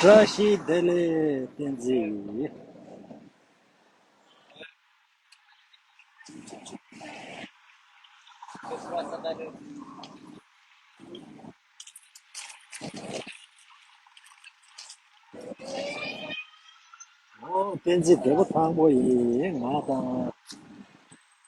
བཀྲ་ཤིས་བདེ་ལེགས་བསྟན་འཛིན། ཨོ་བསྟན་འཛིན་བདེ་པོ་དང་པོ་ཡིས་ང་དང།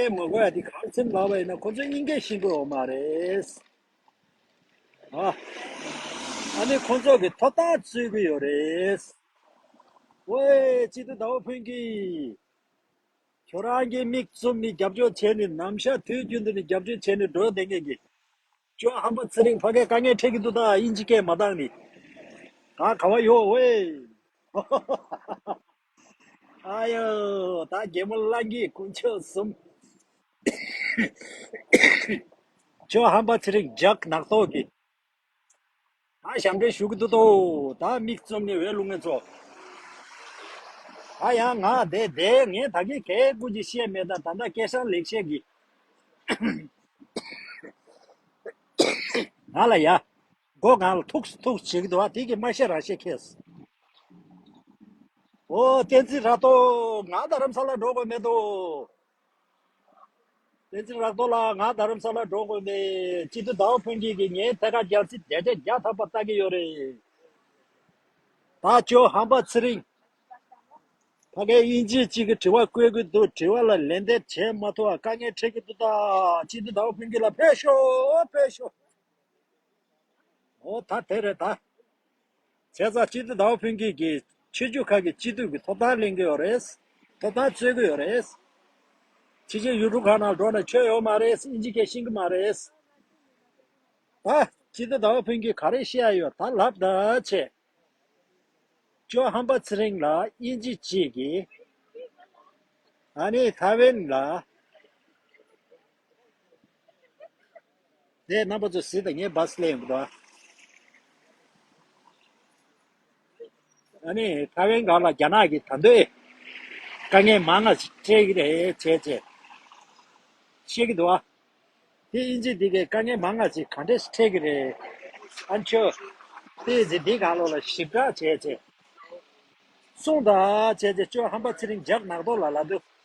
ཨེ་མ་གོ་ཡ་དེ་གང་སེམས་ལགས་པ་ཡིན་ན་ཁོ་ཚོ་སྙིང་གས་ཤིན་པོ་འོ་མ་རེད་ཨ་ཨ་ནི་ཁོ་ཚོ་གི་ཐོབ་ཐང་རྩོད་གི་ཡོད་རེད་ཝེ་ཅི་ཏུ་ཟླ་བ་ཕུན་གི་ཁྱོད་རང་གི་མིག་བཙུམ་ནི་རྒྱབ་སྐྱོར་བྱས་ནི་ནམ་ཞག་དུས་རྒྱུན་དུ་ནི་རྒྱབ་སྐྱོར་བྱས་ནི་འགྲོ་དེ་ངེས་གི་ཅོ་ཧམ་པ་ཚེ་རིང་ཕ་གས་དཀའ་ངལ་འཕྲད་གི་འདུག་ད་དབྱིན་ཇི་སྐད་མ་གཏང་ནི་ག་ག་བ་ཡོད་ཝེ་ཨ་ཡོ་ད་རྒྱལ་མོ་གླང་གི་སྐུ་མཆོག་གསུམ་ཁྱོད་ཧམ་པ་ཚེ་རིང་ཇག་ནག་ཚོགས་ཀྱི་ད་ཞབས་འདྲེན་ཞུ་གི་འདུག་ཏོ་ད་མིག་བཙུམ་ནས་འོད་རླུང་ངན་ཚོགས་ད་ཡང་ང་དེ་དེ་ངས་ད་གེ་གེ་ཀུ་ཅི་བཤད་མེད་ད་ད་ད་སྐད་ཧྲ་ལེགས་བཤད་གི་ང་ལ་ཡ་སྒོ་གང་ལ་ཐུགས་སུ་ཐུགས་བྱེད་ཀྱི་འདུག་དེ་ཀྱིས་མ་ཤེས་རང་ཤེས་ཁེགས་སོ། འོ་བསྟན་འཛིན་རག་ཏོ་ང་རྡ་རམ་ས་ལ་འགྲོ་དགོས་མེད་དོ། བསྟན་འཛིན་རག་ཏོ་ལགས་ང་རྡ་རམ་ས་ལ་འགྲོ་དགོས་མེད། སྤྱི་འཐུས་ཟླ་བ་ཕུན་སྐྱིད་ཀྱིས་ངའི་ཐད་ཀར་རྒྱལ་སྲིད་བརྒྱ་ཆ་བརྒྱ་འཐབ་པ་ལྟ་གི་ཡོད་རེད། ད་ཁྱོད་ཧམ་པ་ཚེ་རིང། ཕ་གའི་དབྱིན་ཇི་གཅིག་གི་དྲི་བ་བཀོད་གི་འདུག་དྲི་བ་ལ་ལན་འདེབས་བྱས་མ་ཐུབ་བ་དཀའ་ངལ་འཕྲད་ཀྱི་འདུག་ད་སྤྱི་འཐུས་ཟླ་བ་ཕུན་སྐྱིད་ལ་ཕེབས་ཤོག་ཕེབས་ཤོག། ཨོ་ད་དེ་རེད་ད། བྱས་ཙང་སྤྱི་འཐུས་དྭོགས་ཕུན་སྐྱིད་ཀྱིས་ཆོས་བརྒྱུད་ཁག་གི་སྤྱི་འཐུས་ཀྱི་ཐོབ་ཐང་གླེང་གི་ཡོད་རེད། ཐོབ་ཐང་རྩོད་ཀྱི་ཡོད་རེད། ཕྱི་ཕྱིར་ཡུལ་གྲུ་ཁག་ནང་འགྲོ་ནས་ཆོས་ཡོད་མ་རེད་ཨིན་ཇི་སྐད་ཤིང་གི་མ་རེད། ད། སྤྱི་འཐུས་དྭོགས་ཕུན་སྐྱིད་ག་རེ་བཤད་ཡ་ཡོད་ད་ལབ་ད་བྱས། ཅོ་ཧམ་པ་ཚེ་རིང་ལ་ཨིན་ཇི་གཅིག་གིས། ཨ་ནི་ཐའེ་ཝན་ལ། དེ་རྣམ་པ་ཚོས་ཟིལ་དང་ངས་བ་སླེ་ཡོང་གི་འདུག་ཨ་ནི་ཐ་ཝན་གང་ལ་རྒྱ་ནག་གིས་ད་འདོད་དཀའ་ངལ་མང་ང་སྤྲད་ཀྱི་རེད་ཅེས་བཤད་ཀྱི་འདུག་དེ་དབྱིན་ཇིས་འདི་གའི་དཀའ་ངལ་མང་ང་ཞིག་གང་འདྲས་སྤྲད་ཀྱི་རེད་ཨ་མཆོད་དེ་ཚེ་འདི་གང་ལོག་ལ་ཞིབ་བསྒྲགས་བྱས་ཅེས་གསུངས་དང་བྱས་ཅེས་ཅོ་ཧམ་པ་ཚེ་རིང་ཇག་ནག་ཏོག་ལ་ལ་དུ་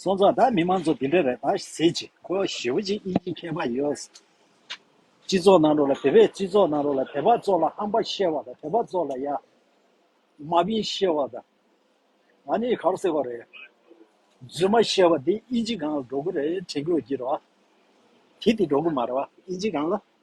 སོང་ཙང་ད་མི་མང་ཚོ་དེ་འདྲ་རེད་ད་ཟེར་གྱི་ཁོ་ཞེ་བོ་ཅིག་དབྱིན་ཇི་མཁས་པ་ཡོད་སྤྱི་ཚོགས་ནང་རོགས་ལ་དེ་བས་སྤྱི་ཚོགས་ནང་རོགས་ལ་དད་པ་གཙོག་ལ་ཧམ་པ་བཤད་བ་དང་དད་པ་གཙོག་ལ་ཡ་མ་བིན་བཤད་བ་དང་ང་ནི་གར་སེ་བ་རེད་རྫུན་མ་བཤད་བ་དེ་དབྱིན་ཇི་གང་ལ་འགྲོ་གི་རེད་དྲན་གི་རོ་གྱི་རོ་ཨ་དེ་དེ་འགྲོ་གི་མ་རེད་བ་དབྱིན་ཇི་གང་ལ།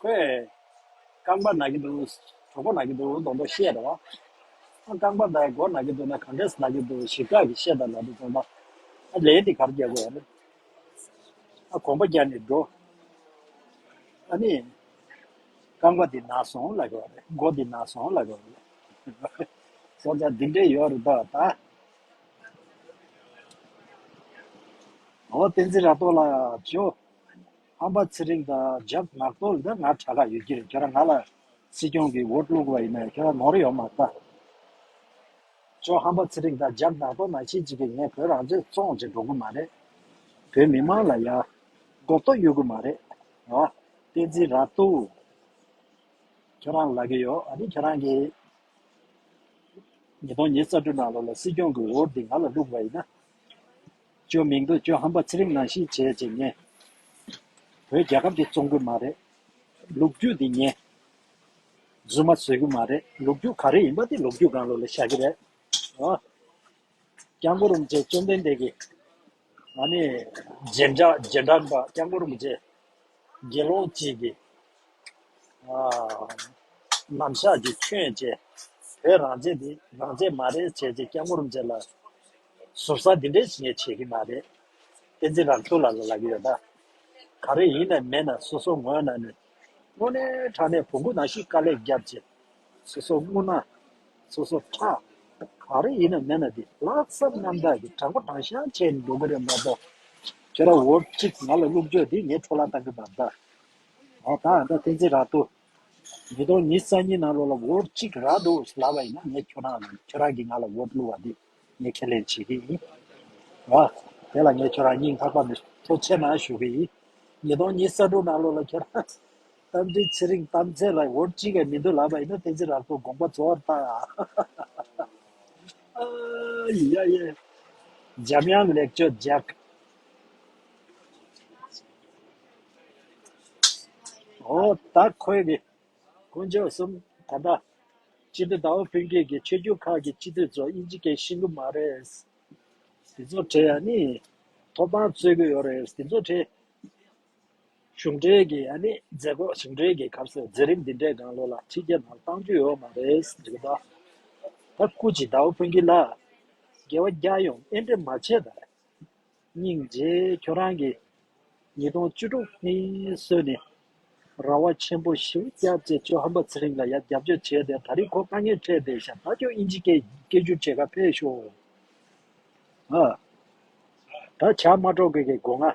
ཁོས། རྐང་པ་ན་གི་འདུག་གྲོགས་པོ་ན་གི་འདུག་ལྡོང་ལྡོང་བཤད། ཨ་རྐང་པ་ཟླ་མགོ་ན་གི་འདུག་ན་གང་འདྲས་ན་གི་འདུག་ཞིབ་ཕྲ་གི་བཤད་དང་ལ་དུ་འཛོམ་པ། ཨ་ལས་འདི་གར་རྒྱག་དགོས་ཨ་ནི། ཨ་གོམ་པ་རྒྱག་ནས་འགྲོ། ཨ་ནི། རྐང་པ་འདི་ན་སོང་ལ་གོ། མགོ་འདི་ན་སོང་ལ་གོ། སོང་ཙང་འདི་འདྲས་ཡོད་རེད་དོ་ད། ཨོ་བསྟན་འཛིན་ར་ཏོག་ལགས་བྱོས། ཧམ་པ་ཚེ་རིང་དང་ཇག་ནག་པོ་འདི་ང་དྲ་ག་ཡོད་ཀྱི་རེད་ཁྱོད་རང་ང་ལ་སྲིད་སྐྱོང་གི་འོ་བླུག་པ་ཡིན་ནའི་ཁྱོད་རང་ནོར་ཡོད་མ་ད་ཅོ་ཧམ་པ་ཚེ་རིང་དང་ཇག་ནག་པོ་མ་ཤེས་ཅི་གི་ངས་བོད་རང་བཙན་བཙོང་བྱེད་འགྲོ་གི་མ་རེད་བོད་མི་མང་ལ་ཡག་མགོ་ཏོ་ཡོད་གི་མ་རེད་ཨ་བཏན་འཛིན་ར་ཏོ་ཁྱོད་རང་ལ་གི་ཡོད་ཨ་ནི་ཁྱོད་རང་གི་ཉིས་སྟོང་ཉིས་རྩ་དྲུག་ནང་ལོ་ལ་སྲིད་སྐྱོང་གི་འོ་འདི་ང་ལ་བླུག་པ་ཡིན་ན། བཅོས་མིང་བསྡུ་བཅོས་ཧམ་པ་ཚེ་རིང་ནང་ཤི་བྱས་ཅེས་ཉན། བོད་རྒྱལ་ཁབ་ཀྱི་བཙོང་གི་མ་རེད། ལུག་རྒྱུད་འདི་ཉན། རྫུན་མ་བཟོས་གི་མ་རེད་ལུག་རྒྱུད་ག་རེ་ཡིན་པ་དེ་ལུག་རྒྱུད་སྒང་ལོ་ལ་བཞག་གི་རེད། ཨོ། སྐྱག་མགོ་རུམ་བཅས་བཅོམ་ལྡན་འདས་ཀྱི། ཨ་ནི། རྗེ་འདྲ་རྗེ་འདྲ་འདྲ་སྐྱག་མགོ་རུམ་བཅས། དགེ་སློང་གཅིག་གི། ཨ། ནམ་ཞག་གི་ཁྱོད་བཅས། བོད་རང་བཅས་འདི་རང་བཅས་མ་རེད་བྱས་ཅེས་སྐྱག་མགོ་རུམ་བཅས་ལ། ཟུར་ཟ་འདི་འདྲས་ངས་བྱེད་ཀྱི་མ་རེད། བསྟན་འཛིན་རང་སྐྱོང་ལ་ལ་ལ་གི་ཡོད་ན། ག་རེ་ཡིན་ནས་མེད་ན་སོ་སོ་ངོ་ན་ནི། དངོས་གནས་དྲ་གནས་བོང་གུ་ནང་ཞིག་དཀའ་ལས་བརྒྱབ་ཅེས། སོ་སོ་སྔུར་ན། སོ་སོ་ཁྲག། ག་རེ་ཡིན་ནས་མེད་ན་འདི་ལྷག་བསམ་རྣམ་དག་གི་དྲང་པོ་དྲང་བཞག་བྱས་ནས་འགྲོ་གི་རེད་མ་གཏོགས། ཁྱེད་རང་འོར་གཅིག་ང་ལ་རླུང་བཅོས་འདི་ངས་འཕྲོ་བརླག་བཏང་གི་མ་རེད། ད་ད་ད་བསྟན་འཛིན་རང་སྟོད། ཉིས་སྟོང་ཉིས་རྩ་གཉིས་ནང་ལོག་ལ་འོར་གཅིག་རག་འདུག་ལབ་པ་ཡིན་ན་ངས་ཁྱོད་རང་ལ་ཁྱོད་རང་གིས་ང་ལ་འོར་བསླུ་བ་འདི། ངས་ཁས་ལེན་བྱེད་ཀྱི་ཡིན། ཨ། དེ་ལ་ངས་ཁྱོད་རང་གཉིས་ལྷག་པར་མི་ཐུག་ཆེ་ན་ཞུ་གི་ཡིན། ཉིས་སྟོང་ཉིས་ས་དྲུག་ནང་ལོ་ལ་ཁྱོད་རང་རྟ་མགྲིན་ཚེ་རིང་གཏམ་ཚེ་ལ་འོར་གཅིག་གིས་མི་འདུག་ལབ་པ་ཡིན་ན་དེ་ཚེ་རབས་ཚོགས་དགོངས་པ་གཙོ་བོར་བཏང། ཨ་ཡེ་ཡ་ཡེ། འཇམ་དབྱངས་ལེགས་བཅོས་རྒྱག། ཨོ་ད་ཁོའི་གི། དཀོན་མཆོག་གསུམ། ད་ལྟ། སྤྱི་འཐུས་དྭོགས་པོ་ཕུན་སྐྱིད་ཀྱིས་ཆོས་རྒྱུད་ཁག་གི་སྤྱི་འཐུས་ཚོ་དབྱིན་ཇི་སྐད་ཤེས་གི་མ་རེད། དེ་ཚོ་བྲེལ་ཡ་ནི། ཐོབ་ཐང་རྩོད་གི་ཡོད་རེད། དེ་ཚོ་བྲེལ། གཞུང་འབྲེལ་གྱི་ཡ་ནི་མཛད་སྒོ་གཞུང་འབྲེལ་གྱི་སྐབས་སུ་མཛད་རིམ་འདི་འདྲས་གང་ལོ་ལ་ཁྲི་བརྒྱད་ནང་བཏང་རྒྱུ་ཡོད་མ་རེད། དེ་ལྟ། ད་སྐུ་ཅི་དྭོགས་པོ་ཕུན་སྐྱིད་ལགས། རྒྱལ་བ་རྒྱ་ཡོངས་ཨེ་འདྲེ་མ་བྱེད་ད། སྙིང་རྗེ་ཁྱོད་རང་གི། ཉིས་སྟོང་བཅུ་དྲུག་ནི་སྲོལ་ནི། ར་བ་ཆེན་པོ་ཞི་བུ་སྐྱབས་བཅས་ཅོ་ཧན་པ་ཚེ་རིང་ལ་ཡ་རྒྱབ་སྐྱོར་བྱས་ཏེ་ད་རིག་ཁོ་དཀའ་ངལ་འཕྲད་པའི་ཞབས་ལྟ་ཁྱོད་དབྱིན་ཇི་སྐད་སྐད་བསྒྱུར་བྱེད་ཁ་འཕེལ་ཤོག་ཨ། ད་བྱ་མ་སྒྲོག་དགོས་ཀྱི་སྒོ་ང།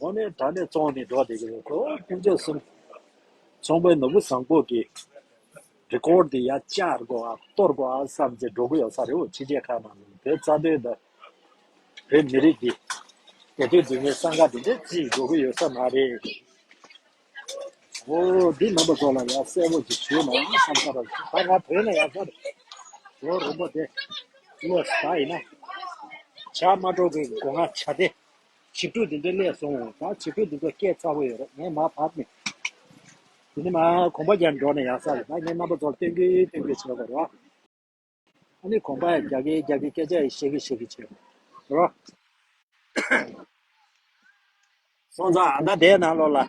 འོ་ནི་ད་ནི་བཙོང་ནི་འགྲོ་བདེ་གི་རེད་དོ་ཕན་ཆད་གསུམ། ཚོང་པའི་ནོར་བུ་བཟང་པོ་གི། རི་སྐོར་དེ་ཡ་བསྐྱར་དགོ་ཨ་གཏོར་དགོ་ཨ་བསམ་ཚེ་འགྲོ་གི་ཡོད་ས་རེད་འོ་ཕྱི་རྒྱལ་ཁག་ནང་བོད་རྩ་དོན་དང། བོད་མི་རིགས་ཀྱི། དེ་དུས་དུས་ངན་ས་འགའ་དེ་འདྲས་ཅིག་འགྲོ་གི་ཡོད་ས་མ་རེད། འོ་འདི་ནང་པ་ཚོ་ལ་ཡ་གསལ་བོ་ཅིག་ཞུས་ན་བསམ་ས་རེད་ད་ང་བོད་ནང་ཡ་སར་འགྲོ་རིན་པོ་དེ། བློ་ས་ཡིན་ན། བྱ་མ་འགྲོ་གི་དགོ་ང་བྱ་དེ། བྱིས་ཕྲུག་འདི་ཚོའི་སླད་སོང་བས་ཀྱང་བྱིས་ཕྲུག་འདི་ཚོ་སྐད་ཚ་བོ་ཡོད་རེད་ངས་མར་བབས་ནས་དེ་ནས་མར་གོམ་པ་རྒྱག་འགྲོ་ནས་ཡག་ས་རེད་ད་ངས་རྣམ་པ་ཚོར་སྟོན་གི་སྟོན་གི་བྱེད་དགོས་རེད་ཨ་ནི་གོམ་པ་ཡང་རྒྱག་གི་རྒྱག་གི་སྐད་ཆ་ཡང་བཤད་གི་བཤད་གི་བྱེད་དགོས་རེད། སོང་ཙང་ཨ་མདའ་དེའི་ནང་ལོགས་ལ།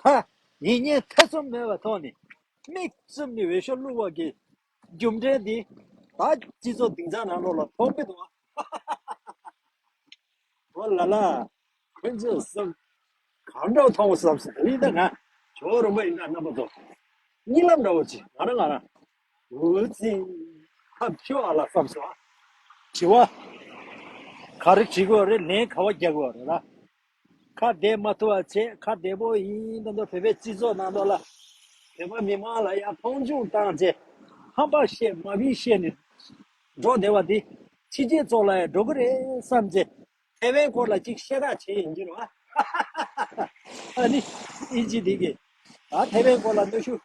ཐ། ཡིད་བརྙན་ཐེ་ཚོམ་མེད་པར་ཐོགས་ནས། མིག་བཙུམ་ནས་འོས་ཤོག་བླུག་བར་གྱིས། རྒྱུ་འབྲས་འདི་དག་སྤྱི་ཚོགས་སྡིངས་ཆ་ནང་ལོགས་ལ་ཐོགས་མེད་དུ། ཨོ་ལ་ལ། ཁོ་ཚོས་བསམ། གང་འདྲ་བོ་མཐོང་བ་བསམ་སོང་ཨེ་ཡིན་ད་ང། ཇོ་བོ་རིན་པོ་ཡིན་ད་རྣམ་པ་ཚོ། གཉིད་ལམ་འདྲ་བོ་ཅི་ང་རང་ང་རང། འུ་ཚི། ཐབས་སྐྱོ་ཨ་ལ་བསམ་སོང་ཨ། དྲི་བ། ག་རེ་བྲིས་དགོས་རེད་ལན་ག་བ་རྒྱག་དགོས་རེད་ལ། ཁ་བདེ་མ་ཐུབ་བ་བྱས་ཁ་བདེ་པོ་ཡིན་དང་དུ་བོད་པའི་སྤྱི་ཚོགས་ནང་དོགས་ལ་བོད་པ་མི་དམངས་ལ་ཡང་མཐོང་ཆུང་བཏང་རྗེས་ཧམ་པ་བཤད་དམའ་འབིན་བཤད་ནས་འགྲོ་བདེ་བ་འདི་ཕྱི་རྒྱལ་ཚོགས་ལ་ཡང་འགྲོ་གི་རེད་བསམ་རྗེས་ཐེ་ཝན་སྐོར་ལ་གཅིག་བཤད་གྲགས་བྱེད་ཡིན་རྒྱུ་རེད་བ་ཨ་ནི་ཨི་ཇི་དེ་གི་ཨ་ཐེ་ཝན་སྐོར་ལ་གནོད་ཤུགས་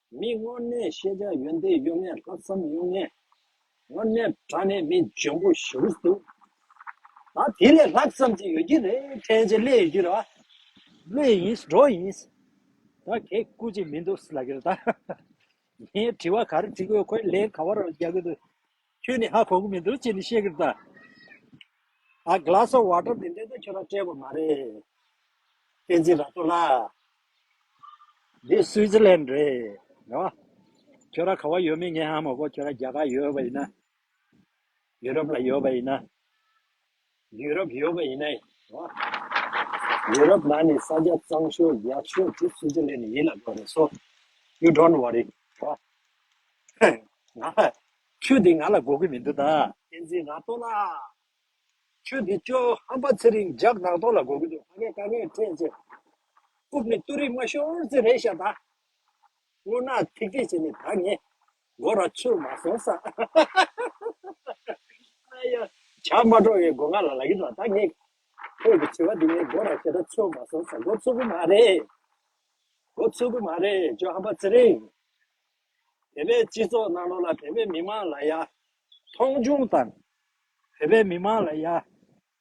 མི་མངོན་གནས་ཤེས་བྱ་ཡོན་ཏན་གཡོ་མེད་ལྷག་བསམ་དབྱུང་གནས། དངོས་གནས་དགྲ་ནས་མི་འཇོན་པོ་ཞེ་རུ་གཏུགས། ད་དེ་ལས་ལྷག་བསམ་ཅི་ཡོད་ཀྱི་རེད་ཕྲན་ཅེ་ལེ་ཡོད་ཀྱི་རེད་བ། ལོས་ཡིན་འགྲོ་ཡིན། ད་གད་སྐུ་ཅིག་མི་འདུག་ལགས་ཀྱི་རེད་ད། ངའི་དྲི་བ་ག་རེ་དྲི་དགོས་ཁོས་ལན་ག་བ་རང་རྒྱག་གི་འདུག། ཁྱོད་ནི་ཧ་གོ་གི་མི་འདུག་ཅེས་ནི་བཤད་ཀྱི་ད་ཨ glass of water དེ་འདྲས་ཀྱང་ཁྱོད་རང་སྤྲད་པ་མ་རེད་བསྟན་འཛིན་ར་སྟོ་ལགས་འདི Switzerland རེད་ཡོ་ཁྱོད་རང་ག་བ་ཡོད་མེད་ངས་ཧ་མ་གོ་ཁྱོད་རང་རྒྱ་གར་ཡོད་པ་ཡིན་ན་ཡུ་རོབ་ལ་ཡོད་པ་ཡིན་ན་ཡུ་རོབ་ཡོད་པ་ཡིན་ནའི་འོ། ཡུ་རོབ་ནང་ནས་ས་རྒྱ་གཙང་ཤོས་རྒྱག་ཤོས་དེ་སུའུ་ཙི་ལན་ནས་ཡིན་ལབ་ཡོང་རེད་སོ། ཡུ་དྲོན་བ་རི་འོ། ང་ལ་ཁྱོད་དེ་ང་ལ་དགོས་ཀྱི་མི་འདུག་ད། བསྟན་འཛིན་ར་ལྟོ་ལགས། ཁྱོད་དེ་ཅོ་ཧམ་པ་ཚེ་རིང་ཇག་རྡག་ཏོ་ལ་དགོས་ཀྱི་འདུག་ཕ་གས་ཀ་ངས་ཁྲེས་ཅེས། རྐུབ་ནི་སྟུ་རིག་མ་ཤོར་ཚེ་རེད་ཤག་ད། སྔོ་ནག་ཐིག་ཐིག་བྱས་ནས་ད་ངས། མགོ་ར་ཆུར་མ་སོང་ས་ཧ་ཧ་ཧ་ཨ་ཡ། བྱ་མ་འགྲོ་བའི་སྒོ་ང་ལ་ལག་གི་ལ་དྭགས་ངེས། ཁྱོད་ཀྱི་དྲི་བ་འདི་ངའི་མགོ་ར་ཞེ་ད་ཆུར་མ་སོང་ས་མགོ་ཚུགས་པོ་མ་རེད། མགོ་ཚུགས་པོ་མ་རེད་ཇོ་ཧམ་པ་ཚེ་རིང། བོད་པའི་སྤྱི་ཚོགས་ནང་ལོགས་ལ་བོད་པའི་མི་དམངས་ལ་ཡ། མཐོང་ཆུང་དང། བོད་པའི་མི་དམངས་ལ་ཡ།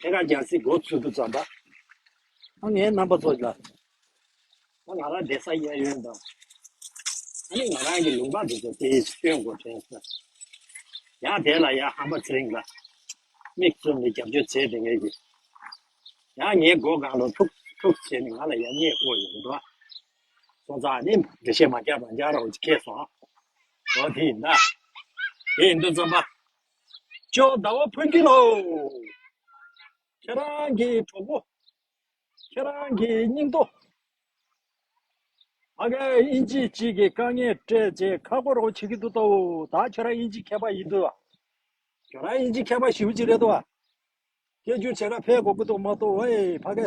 ཁྱེད་རང་རྒྱལ་སྲིད་མགོ་ཚུལ་དུ་བརྩམས་པ། ང་ངའི་རྣམ་པ་ཚོ་ལ། ང་ང་རང་བདེ་ས་གཡས་གཡོན་དང། ད་ནི་ང་རང་གི་ལུང་པ་འདི་ཚོ་དེ་ཡི་སྟོན་མགོ་དྲན་ས། ཡང་དེ་ལ་ཡང་ཧམ་པ་ཚེ་རིང་ལ། མིག་བཙུམ་ནས་རྒྱབ་སྐྱོར་བྱེད་དེ་ངེས་ཀྱི། ཡང་ངའི་སྒོ་གང་རུང་ཐུག་ཐུག་བྱས་ནས་ང་ལ་ཡ་མཉེས་ཨོ་ཡོད་རེད། སོང་ཙང་ནི་འབྲི་ཤེས་མ་རྒྱག་པར་འཇགས་རོགས་ཁྱེད་སོང། འོ་དེ་ཡིན་ན། དེ་ཡིན་དུ་བརྩམས་པ། ཅོག་ཟླ་བ་ཕུན་སྐྱིད་ལགས། ཁྱེད་རང་གི་གྲོགས་པོ་ཁྱེད་རང་གི་སྙིང་སྟོབས་ཨ་ཁ་དབྱིན་ཇི་གཅིག་གི་དཀའ་ངལ་སྤྲད་རྗེས་ཁ་སྐོར་རོགས་བྱེད་ཀྱི་འདུག་ཏོ་ད་ཁྱེད་རང་དབྱིན་ཇི་མཁས་པ་ཡིན་དུས་ཨ་ཁྱེད་རང་དབྱིན་ཇི་མཁས་པ་ཞིག་གཅིག་རེད་དོ་ཨ་སྐད་བསྒྱུར་བྱེད་ཁ་ཕེ་གོ་གི་འདུག་མ་གཏོགས་ཨེ་ཕ་གི་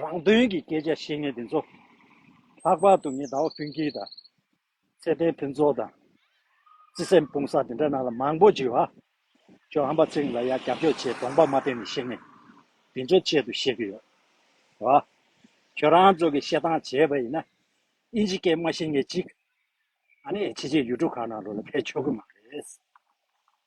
རང་དོན་གྱི་སྐད་ཆ་བཤད་མཁན་དེ་ཚོ་ལྷག་པར་དུ་ངེད་ཟླ་བ་ཕུན་སྐྱིད་དང་ཚེ་བརྟན་ཕུན་ཚོགས་དང་བརྩེ་སེམས་སྤུང་བསགས་དེ་འདྲ་རྣམས་ལ་མང་པོ་བརྗོད་ཨ། ཁྱོད་ཧམ་པ་ཚིག་ལ་ཡ་རྒྱབ་སྐྱོར་བྱེད་གདོང་པ་མ་བསྟན་ནས་བཤད་ངེས་དེ་ཚོ་ཆེད་དུ་བཤད་ཀྱི་ཡོད་ཨ། ཁྱོད་རང་ཚོ་གི་བཤད་སྟངས་བྱས་པ་ཡིན་ན་ཨིན་ཇི་སྐད་མ་ཤེས་ངེས་ཅིག་ཨ་ནི་ཕྱི་རྗེས་ཡུལ་གྲུ་གང་ན་རུ་ལ་ཕེབས་ཆོག་གི་མ་རེད།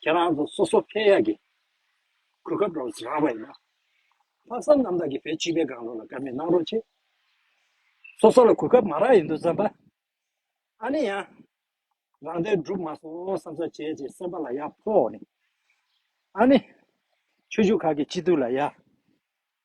ཁྱེད་རང་ཚོ་སོ་སོ་ཕལ་ཡག་གི་གོ་སྐབས་རོགས་རེ་རག་པ་ཡིན་ན། ལྷག་བསམ་རྣམ་དག་གི་བེད་སྤྱིད་པའི་སྒང་རོགས་ལ་དཀའ་མེད་གནང་རོགས་ཆེ། སོ་སོ་ལ་གོ་སྐབས་མ་རག་ཡིན་དུ་བརྩམས་པ། ཨ་ནི་ཡང་རང་བདེན་བསྒྲུབ་མ་སོང་བསམ་ས་བྱས་བྱས་སེམས་པ་ལ་ཡག་ཕོག་ནི། ཨ་ནི་ཆོས་ཞུགས་ཁག་གི་སྤྱི་འཐུས་ལ་ཡག།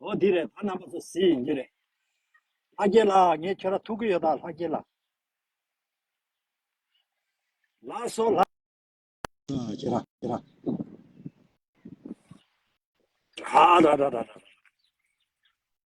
ཨོ་འདི་རེད་ཕ་རྣམ་པ་ཚོ་ཟི་ཡིན་གྱི་རེད་ལྷ་རྒྱལ་ལགས་ངས་ཁྱོད་ར་ཐུག་གི་ཡོད་ད་ལྷ་རྒྱལ་ལགས་ལགས་སོ་ལ་ཁྱོད་ར་ཁྱོད་ར་ཨ་ར་ར་ར་ར་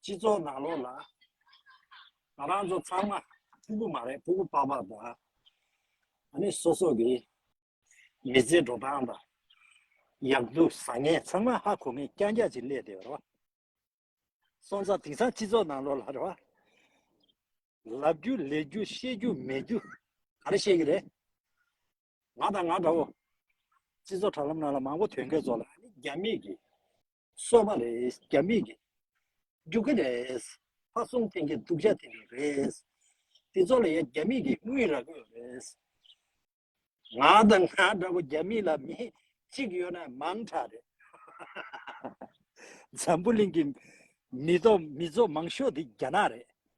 སྤྱི་ཚོགས་ནང་ལོགས་ལ། ང་རང་ཚོ་ཚང་མ་ཕྲུ་གུ་མ་རེད་ཕྲུ་གུ་པགས་པགས་དང། ཨ་ནི་སོ་སོ་གི། མི་ཚེ་འགྲོ་སྟངས་དང། ཡག་སྡུག་བཟང་ངན་ཚང་མ་ཧ་གོ་མིན་རྐྱང་རྐྱང་ཅིག་གླས་དེ་རེད་བ། སོང་ཙང་དེང་སང་སྤྱི་ཚོགས་ནང་ལོགས་ལ་རེད་བ། ལབ་རྒྱུ་ལས་རྒྱུ་ཤེས་རྒྱུ་མེད་རྒྱུ་ག་རེ་བཤད་གི་རེད། ང་དང་ང་འདྲ་བོ། སྤྱི་ཚོགས་དྲ་ལམ་ནང་ལ་མང་བོ་དོན་འགེལ་ཚོགས་ལ། རྒྱ་མིས་ཀྱིས། གསོལ་བ་རེད་རྒྱ་མིས་ཀྱིས། རྒྱུག་གི་རེད། ཕ་སུང་ཐེན་གྱིས་སྡུག་ཅག་ཐེན་གྱི་རེད། འདི་ཚོ་ལ་ཡ་རྒྱ་མིས་ཀྱིས་དངུལ་རག་གི་རེད། ང་དང་ང་འདྲ་བོ་རྒྱ་མིས་ལ་མི། གཅིག་ཡོད་ན་མང་དྲག་རེད། འཛམ་བུ་གླིང་གི་མི་ཚོགས་མང་ཤོས་དེ་རྒྱ་ནག་རེད།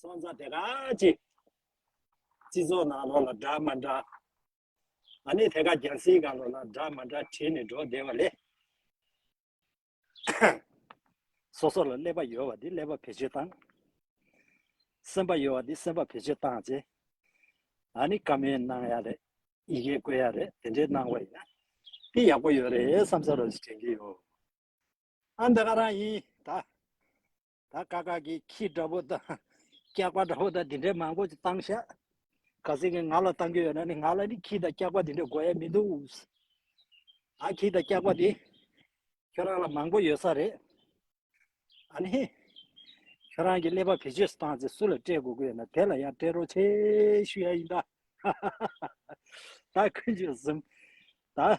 སོང་ཙང་དེ་ག་ཅིག། སྤྱི་ཚོགས་ནང་ལོགས་ལ་འདྲ་མ་འདྲ། ཨ་ནི་དེ་ག་རྒྱལ་སྲིད་གང་ལོགས་ལ་འདྲ་མ་འདྲ་བྲིས་ནས་འགྲོ་བདེ་བ་ལས། སོ་སོ་ལ་ཀླད་པ་ཡོད་བ་དེ་ཀླད་པ་བེད་སྤྱོད་བཏང། སེམས་པ་ཡོད་བ་དེ་སེམས་པ་བེད་སྤྱོད་བཏང་རྗེས། ཨ་ནི་བཀའ་མོལ་གནང་ཡ་རེད། ཡི་གེ་བཀོད་ཡ་རེད་དེ་འདྲའི་གནང་བ་ཡིན་ན། འདི་ཡག་པོ་ཡོད་རེད་བསམ་ས་རོ་ཞིག་དྲན་གྱི་ཡོད། ཨ་འདི་ག་རང་ཡིན་ད། ད་དཀའ་དཀའ་ཀྱི་ཁྱི་འདྲ་པོ་དང། སྐྱག་པ་འདྲ་པོ་དང་དེ་འདྲས་མང་པོ་བཏང་ཤག། ག་ཟེ་གི་ང་ལ་བཏང་རྒྱུ་ཡོད་ན་ནི་ང་ལ་ནི་ཁྱི་དང་སྐྱག་པ་དེ་འདྲས་དགོས་ཡ་མི་འདུག། ད་ཁྱི་དང་སྐྱག་པ་དེ་ཁྱོད་རང་ལ་མང་པོ་ཡོད་ས་རེད། ཨ་ནི། ཁྱོད་རང་གི་ཀླད་པ་བེད་སྤྱོད་བཏང་ཚེ་སུ་ལ་སྤྲད་དགོས་ཀྱི་ཡོད་ན་དེ་ལ་ཡང་སྤྲད་རོགས་བྱས་ཞུ་ཡ་ཡིན་ད། ད་ཀུན་སྤྱོད་གསུམ། ད།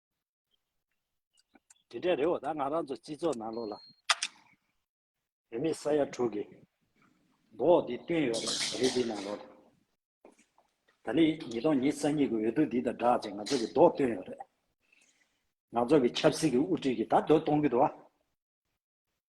དེ་འདྲའི་རེ་བ་ད་ང་རང་ཚོ་སྤྱི་ཚོགས་ནང་ལོགས་ལ། བོད་མི་ས་ཡ་དྲུག་གི་མདོག་འདི་བཏོན་ཡོད་པ་རེད་འདི་ནང་ལོགས་ལ། ད་ནི་ཉིས་སྟོང་ཉིས་སར་ཉིད་ཀྱི་འོས་བསྡུ་འདི་དང་སྦྲགས་ཅིག་ང་ཚོ་གི་མདོག་བཏོན་ཡོད་རེད། ང་ཚོ་གི་ཆབ་སྲིད་ཀྱི་དབུ་ཁྲིད་ཀྱི་ད་མདོག་གཏོང་གི་འདུག་ཨ།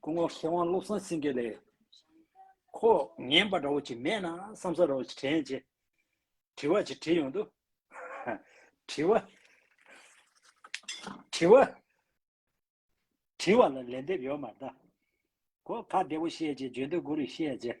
སྐུ་ངོ་མཁས་དབང་བློ་བཟང་སེང་གེ་ལས། ཁོ་ངན་པ་འདྲ་བོ་ཅིག་མེད་ན་བསམ་ས་ར་བོ་ཅིག་དྲན་རྗེས། དྲི་བ་ཅིག་དྲིས་ཡོང་དུ། དྲི་བ། དྲི་བ། དྲི་བ་ལ་ལན་འདེབས་ཡོད་མ་གདའ། ཁོ་ཁ་བདེ་བོ་བཤད་རྗེས་བརྗོད་འདོད་དགུ་རིགས་བཤད་རྗེས།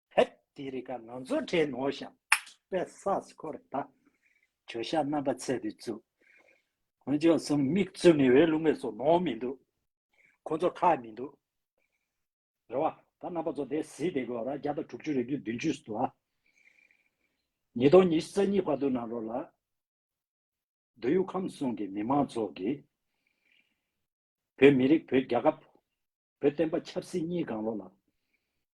ཧད། དེ་རིག་ཀ་ང་ཚོ་ཁྲེ་ནོ་ཤམ་པད་སཱས་ཁོ་ར་ད། བྱོ་ཤ་རྣམ་པ་ཚད་དུ་བཙུགས། ཁོ་ཅོག་གསུམ་མིག་བཙུམ་ནས་འོད་རླུང་མེད་སོ་ནོར་མི་འདུག། ཁོ་ཚོ་ཁ་མི་འདུག། རེ་བ། ད་རྣམ་པ་ཚོ་དེ་བཟི་དེ་གོ་ར་བརྒྱ་དང་དྲུག་ཅུ་རེ་བཅུ་བདུན་ཅུ་སུ་ཨ། ཉིས་སྟོང་ཉིས་བརྩེགས་གཉིས་བར་དུ་ན་རོ་ལ། འདོད་ཡུག་ཁམས་གསུམ་གྱི་མི་མང་ཚོགས་ཀྱིས། བོད་མི་རིགས་བོད་རྒྱ་ཁབ། བོད་བསྟན་པ་ཆབ་སྲིད་གཉིས་གང་རོ་ལ།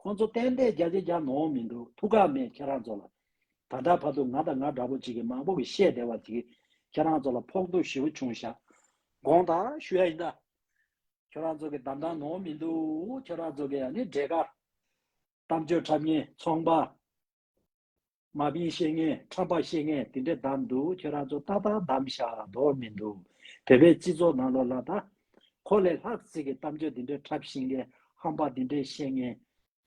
ཁོང་ཚོ་གཏན་གཏན་རྒྱ་ཆེ་རྒྱ་ནོ་མི་འདུག་ཐུགས་ཁག་མེད་ཁྱེད་རང་ཚོ་ལ། ད་ལྟ་བར་དུ་ང་དང་ང་འདྲ་པོ་ཅིག་གིས་མང་པོ་གི་བཤད་བདེ་བ་ཅིག་ཁྱེད་རང་ཚོ་ལ་ཕོག་ཐུག་ཞི་བོ་ཆུང་བཞག་དགོངས་དག་ཞུ་ཡ་ཡིན་ད། ཁྱོད་རང་ཚོ་གི་གདམ་དག་ནོ་མི་འདུག་ཁྱོད་རང་ཚོ་གི་ཡ་ནི་འབྲས་དཀར། གཏམ་བརྗོད་ཁྲབ་ངན་ཚོང་པ། མ་བིའི་བཤེས་གཉེན་ཁྲམ་པ་བཤེས་གཉེན་དེ་འདྲས་བདམས་འདུག་ཁྱོད་རང་ཚོ་ཏག་ཏག་བདམས་ཤག་མདོག་མི་འདུག་བོད་པའི་སྤྱི་ཚོགས་ནང་ལོ་ལ་ད་ཁོ་ལས་ལྷག་ཚིག་གི་གཏམ་བརྗོད་དེ་འདྲས་འཁྲབ་ཤིང་ལས་ཧམ་པ་དེ་འདྲས་བཤེས་གཉེན།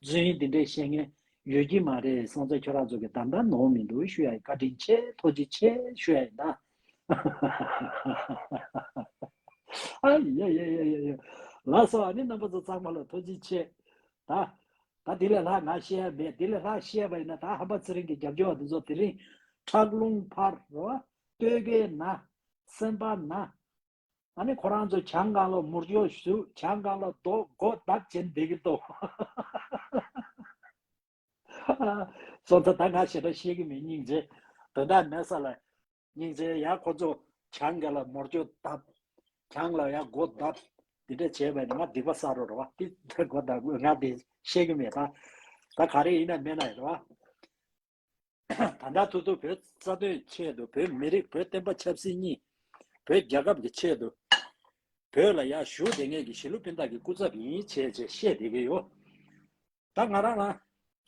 རྫུན་དེ་འདྲས་བཤེས་གཉེན། ཡོད་ཀྱི་མ་རེད་སང་ཚ་ཁྱོད་རང་ཚོ་གི་གདམ་ག་ནོར་མི་འདུག་ཤུ་ཡ་ཡི་བཀའ་དྲིན་ཆེ་ཐོག་ཅི་ཆེ་ཤུ་ཡ་ཡི་ན། ཧཧཧ། ད་དེ་ལས་ལྷག་ང་ཤེས་ཡ་མེད་དེ་ལས་ལྷག་ཤེས་ཡ་པ་ཡིན་ན་ད་ཧམ་པ་ཚེ་རིང་གི་རྒྱབ་སྐྱོར་བ་དེ་ཚོ་དེ་རིང་ཁྲག་རླུང་ཕར་རོ། སྟོད་གའི་ན། སེམས་པ་ན། ཨ་ནི་ཁོ་རང་ཚོ་བྱང་ཀང་ལོག་མུར་ཅོག་བཞུ་བྱང་ཀང་ལོག་རྡོ་སྒོ་བརྡབ་བྱེད་བསྡད་གི་འདུག། སོང་ཚ་ད་ང་ཞེ་དྲག་ཤེས་གི་མེད་སྙིང་རྗེ། དོན་དག་མེད་ས་ལ། སྙིང་རྗེའི་ཡ་ཁོ་ཚོ་གྱང་ག་ལ་མོར་གྱོ་གདབ། གྱང་ལ་ཡ་སྒོ་གདབ། འདི་འདྲ་བྱས་པས་ནི་ང་སྡིག་པ་བསགས་རོགས་རེད་བ། འདི་འདྲ་སྒོ་གདབ་དགོས་ང་དེ་ཤེས་ཀྱི་མེད། ད་ག་རེ་ཡིན་ན་མེད་ན་ཡོད་བ། ད་ལྟ་ཐུག་ཐུག་བོད་རྩ་དོན་ཆེད་དུ་བོད་མི་རིགས་བོད་བསྟན་པ་ཆབ་སྲིད་གཉིས་བོད་རྒྱལ་ཁབ་ཀྱི་ཆེད་དུ། བོད་ལ་ཡ་ཞུ་བདེ་ངེས་ཀྱི་ཞི་ལུ་སྤིན་དག་གི་སྐུ་ཚབ་ཡིན་བྱས་བྱས་བཤད་བསྡད་ཀྱི་ཡོད། ད་ང་རང་ལ་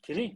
དེ་རིང།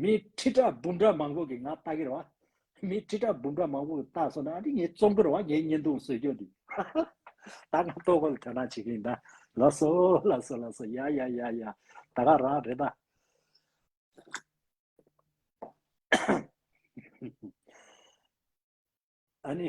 མི་ཁྲི་ཕྲག་འབུམ་ཕྲག་མང་པོ་གིས་ང་ལྟ་གི་རེད་བ། མི་ཁྲི་ཕྲག་འབུམ་ཕྲག་མང་པོ་གིས་ལྟ་སོང་ན་འདི་ངའི་རྩོམ་གི་རེད་བ་ངའི་བརྙན་ཐུང་བཟོས་རྒྱུ་འདི། ད་ང་ལྟོ་གོ་ལ་དོན་རང་བྱེད་ཀྱི་ཡིན་ད། ལ་སོ་ལ་སོ་ལ་སོ་ཡ་ཡ་ཡ་ཡ། ད་ག་རང་རེད་ད། ཨ་ནི།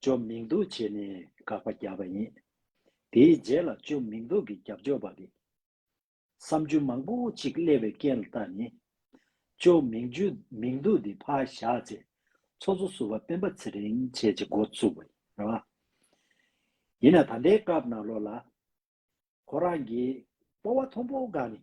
བཅོམ་མིང་འདུག་བྱས་ནས་དགག་པ་བརྒྱབ་པ་ཡིན། དེའི་རྗེས་ལ་བཅོམ་མིང་འདུག་གི་རྒྱབ་ལྗོགས་པ་རེད། བསམ་རྒྱུ་མང་པོ་ཅིག་བསླེས་པའི་རྐྱེན་ལ་བརྟགས་ནས། བཅོམ་མིང་མིང་འདུག་འདི་ཕར་བཞག་ཚེ་ཚོགས་གཙོ་ཟུར་བ་སྤེན་པ་ཚེ་རིང་བྱེད་ཅེས་འགོ་བཙུགས་པ་རེད། ཡིན་ན་ད་ལྟའི་སྐབས་ནང་ལོགས་ལ། ཁོ་རང་གིས་སྤོ་བ་མཐོང་པོ་འགག་ནས་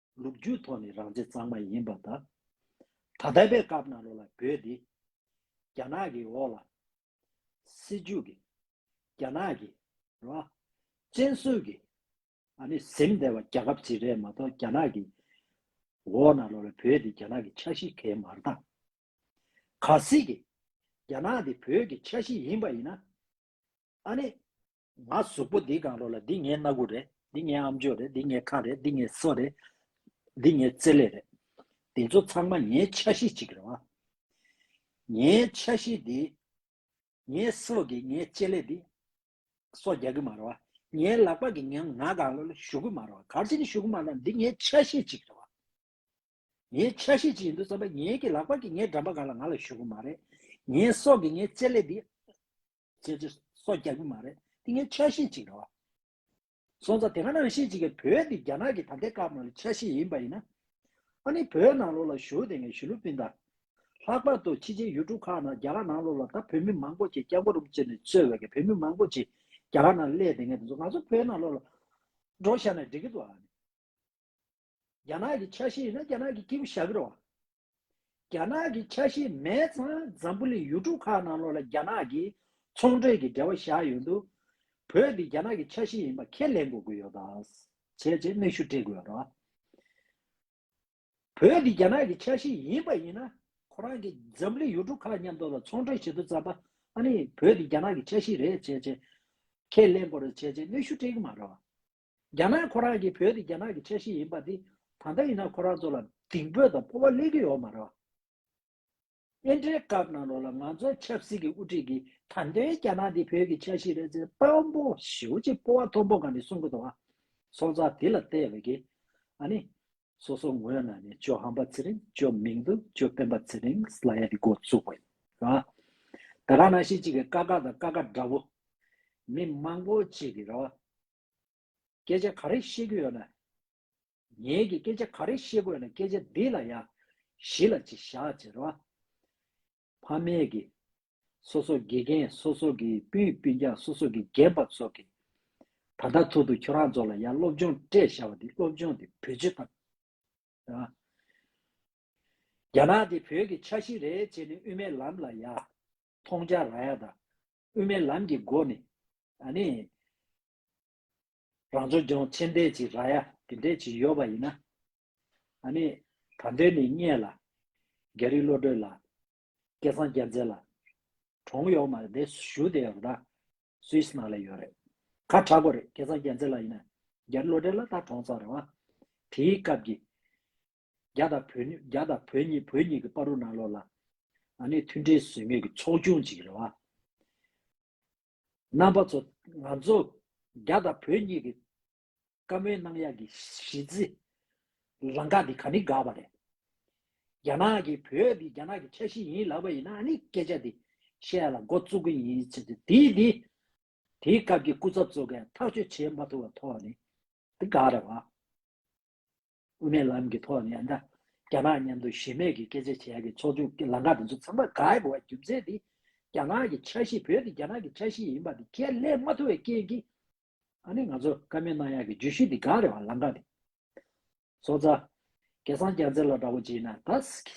ལུགས་རྒྱུད་ཐོག་ནས་རང་བྱེད་གཙང་མ་ཡིན་པ་དང། ད་ལྟ་བའི་སྐབས་ནང་ལོགས་ལ་བོད་འདི། རྒྱ་ནག་གི་འོག་ལ། སེལ་འཇུག་གི། རྒྱ་ནག་གི། ར། བཙན་བཟུང་གི། ཨ་ནི་གཟིམ་སྡེ་བ་རྒྱ་ཁབ་ཅིག་རེད་མ་གཏོགས་རྒྱ་ནག་གི། འོག་ནང་ལོགས་ལ་བོད་འདི་རྒྱ་ནག་གི་ཆ་ཤི་གས་མར་དང། ག་སྲིད་ཀྱི། རྒྱ་ནག་འདི་བོད་ཀྱི་ཆ་ཤི་ཡིན་པ་ཡིན་ན། ཨ་ནི། ང་གཟུགས་པོ་འདིའི་གང་རོགས་ལ་འདི་ངའི་སྣ་དགུ་རེད་འདི་ངའི་ཨམ་ཅོག་རེད་འདི་ངའི་ཁ་རེད་འདི་ངའི་སོ་རེད། འདི་ངའི་རྩེ་ལས་རེད། འདི་ཚོ་ཚང་མ་ངའི་ཆ་ཤས་གཅིག་རེད་བ། ངའི་ཆ་ཤས་འདི། ངའི་སོ་གིས་ངའི་རྩེ་ལས་འདི། སོ་རྒྱག་གི་མ་རེད་བ། ངའི་ལག་པ་གིས་ངའི་ངག་གང་རོགས་ལ་གཞུག་གི་མ་རེད་བ་གར་ཆེན་ནི་གཞུག་གི་མ་རེད་བ་འདི་ངའི་ཆ་ཤས་གཅིག་རེད་བ། ངའི་ཆ་ཤས་ཅིག་ཡིན་འདུག་བསམ་པ་ངའི་གི་ལག་པར་གྱི་ངའི་འགྲམ་པ་གང་ལ་ང་ལ་ཞུགས་གི་མ་རེད། ངའི་སྲོག་གི་ངའི་རྩེད་ལེ་འདི། ཅེས་ཅེས་སོགས་རྒྱག་གི་མ་རེད། འདི་ངའི་ཆ་ཤས་ཅིག་རེད་བ། སོང་ཙང་དེ་ག་ནང་བཞིན་ཅིག་གི་བོད་འདི་རྒྱ་ནག་གི་ད་ལྟའི་སྐབས་ནང་ལ་ཆ་ཤས་ཡིན་པ་ཡིན་ན། ཨ་ནི་བོད་ནང་ལོགས་ལ་བཞུགས་དེ་ངས་ཞུ་ལུགས་སྤིན་དང། ལྷག་པར་དུ་ཕྱི་ཆའི་ཡུལ་གྲུ་ཁག་ནང་རྒྱ་གར་ནང་ལོགས་ལ་ད་བོད་མི་མང་པོ་ཅིག་སྐྱབས་མགོ་རུམ་བཅེར་ནས་ཚོལ་བས་གི་བོད་མི་མང་པོ་ཅིག་རྒྱ་གར་ནང་སླེས་དེ་ངས་དེ་ཚོ་ང་ཚོ་བོད་ནང་ལོགས་ལ། འགྲོ་ཤར་ནས་འགྲིག་གི་འདུག་ཨ་ནི། རྒྱ་ནག་གི་ཆ་ཤས་ཡིན་ན་རྒྱ་ནག་གི་སྐྱེས་བུ་ཞཱ་ཀི་རོ། རྒྱ་ནག་གི་ཆ་ཤས་མེད་ཙང་འཛམ་བུ་གླིང་ཡུལ་གྲུ་ཁག་ནང་ལོགས་ལ་རྒྱ་ནག་གིས་ཚོང་འབྲེལ་གྱི་འབྲེལ་བ་བཞག་ཡོད་འདུག་བོད་འདི་རྒྱ་ནག་གི་ཆ་ཤས་ཡིན་པ་ཁས་ལེན་དགོས་ཀྱི་ཡོད། བྱས་རྗེས་གནས་ཤུལ་སྤྲད་དགོས་ཡོད། བོད་འདི་རྒྱ་ནག་གི་ཆ་ཤས་ཡིན་པ་ཡིན་ན་ཁོ་རང་གིས་འཛམ་བུ་གླིང་ཡུལ་གྲུ་ཁག་མཉམ་དུ་ལ་ཚོང་འབྲེལ་བྱེད་དུ་བརྩམས་པ་ཨ་ནི་བོད་འདི་རྒྱ་ནག་གི་ཆ་ཤས་རེད་བྱས་རྗེས་ཁས་ལེན་དགོས་རེད་བྱས་རྗེས་གནས་ཤུལ་སྤྲད་ཀྱི་མ་རེད། རྒྱ་ནག་ཁོ་རང་གིས་བོད་དེ་རྒྱ་ནག་གི་ཆ་ཤས་ཡིན་པ་དེ་ད་ལྟ་ཡིན་ན་ཁོ་རང་ཚོ་ལ་གདིང་འབོད་དང་སྤོ་བ་སླེབས་ཀྱི་ཡོད་མ་རེད། དབྱེན་ཁྲལ་སྐབས་ནང་ལོགས་ལ་ང་ཚོ་ཆབ་སྲིད་ཀྱི་དབུ་ཁྲིད་ཀྱིས་དམ་དོན་རྒྱ་ནག་དེ་བོད་ཀྱི་ཆ་ཤས་རེད་ཚེ་དཔང་པོ་ཞེ་བོ་གཅིག་སྤོ་བ་མཐོན་པོ་ག་ནས་གསུང་གི་འདུག་ཨ། སྲོག་རྩ་དེ་ལ་བལྟས་བས་ཀྱི། ཨ་ནི། སོ་སོ་ངོས་ན་ནི་ཅོ་ཧམ་པ་ཚེ་རིང་ཅོ་མིང་དུ་ཅོ་སྤེན་པ་ཚེ་རིང་ལ་ཡ་དེ་འགོ་བཙུགས་བས་ཀྱི། ད་ག་ན་ཤེས་གཅིག་གི་ཀ་ཀ་དང་ཀ་ཀ་འདྲ་བོ། མི་མང་པོ་གཅིག་གི་ར་བ། སྐད་ཆ་ག་རེ་བཤད་རྒྱུ་ཡོད་ན། ངེད་ཀྱིས་སྐད་ཆ་ག་རེ་བཤད་དགོས་ཡོད་ན་སྐད་ཆ་འདི་ལ་ཡང་གཞི་ལ་ཅིག་བཞག་ཅེས་རོ། ཕ་མེས་ཀྱིས། སོ་སོ་དགེ་རྒན་སོ་སོ་གིས་སྤུན་སྤུན་ཀྱང་སོ་སོ་གིས་རྒན་པ་ཚོ་གིས། ད་ལྟ་ཐོག་ཏུ་ཁྱོད་རང་ཚོ་ལ་ཡང་སློབ་སྦྱོང་སྤྲད་བཞག་པ་འདི་སློབ་སྦྱོང་འདི་བོད་སྤྱི་དང། རྒྱ་ནག་འདི་བོད་ཀྱི་ཆ་ཤིག་རེད་ཅེས་ནས་དབུ་མའི་ལམ་ལ་ཡང་མཐོང་རྒྱ་ར་ཡ་དང། དབུ་མའི་ལམ་གྱི་སྒོ་ནས་ནི། རང་བྱུང་ལྗོངས་ཕྱི་འབྲེལ་གྱི་ར་ཡ་དེ་འདྲས་ཀྱི་ཡོད་པ་ཡིན་ན། ནི། ད་འདོད་ནས་རྙེད་ལ། རྒྱ་རིགས་བློ་གྲོས་ལ། སྐལ་བཟང་རྒྱལ་མཚན་ལ། གྲོང་གཡོག་མ་དེ་ཞུ་བསྡད་ཡོད་པ་དང། Swiss ནང་ལ་ཡོད་རེད། ཁ་གྲག་པོ་རེད་སྐལ་བཟང་རྒྱལ་མཚན་ལ་ཡིན་ན། རྒྱ་རིགས་བློ་གྲོས་ལ་ད་གྲོང་ཚོ་རེད་བ། དེའི་སྐབས་ཀྱི། རྒྱ་དང་བོད་གཉིས་རྒྱ་དང་བོད་གཉིས་བོད་གཉིས་ཀྱི་དཔའ་རུ་གནང་ལོ་ལ། ང་ནི་མཐུན་འབྲེལ་ཟོལ་མེད་ཀྱི་ཚོགས་ཆུང་ཅིག་རེད་བ། རྣམ་པ་ཚོ་ང་ཚོ་རྒྱ་དང་བོད་གཉིས་ཀྱི་བཀའ་མོལ་གནང་ཡག་གི་གཞི་རྩི་རང་འགག་འདི་ག་ནི་འགག་པ་རེད། རྒྱ་ནག་གིས་བོད་འདི་རྒྱ་ནག་གི་ཆ་ཤིས་ཡིན་ལབ་པ་ཡིན་ན་ནི་སྐད་ཆ་འདི་བཤད་ཡག་ལ་མགོ་བཙུག་གི་ཡིན་ཚེ་འདི་དེའི་དེའི་དེའི་སྐབས་ཀྱི་སྐུ་ཚབ་ཚོ་གས་ཐག་གཅོད་བྱེད་མ་ཐུབ་པ་ཐོག་ནི་འདི་འགག་རེད་བ། དབུ་མའི་ལམ་གྱི་ཐོག་ནས་ཨ་མདའ། རྒྱ་ནག་མཉམ་དུ་གཞི་མེད་ཀྱི་སྐད་ཆ་བྱེད་ཡག་གི་ཚོགས་ཆུང་གི་ལམ་ཁ་དེ་ཚོ་ཚང་མ་ག་ཡེ་པོ་བ་རྒྱུ་མཚན་དེ་རྒྱ་ནག་གི་ཆ་ཤེས་བོད་དེ་རྒྱ་ནག་གི་ཆ་ཤེས་ཡིན་པ་དེ་ཁས་ལེན་མ་ཐུབ་བའི་རྐྱེན་གྱིས། ཨ་ནི་ང་ཚོ་བཀའ་མོལ་གནང་ཡག་གི་བརྗོད་གཞི་དེ་ག་རེ་བ་ལམ་ཁ་དེ་ཚོ་རྩ། སྐལ་བཟང་སྐྱག་རྫི་ལ་འདྲ་བོ་བྱེད་ན་ད་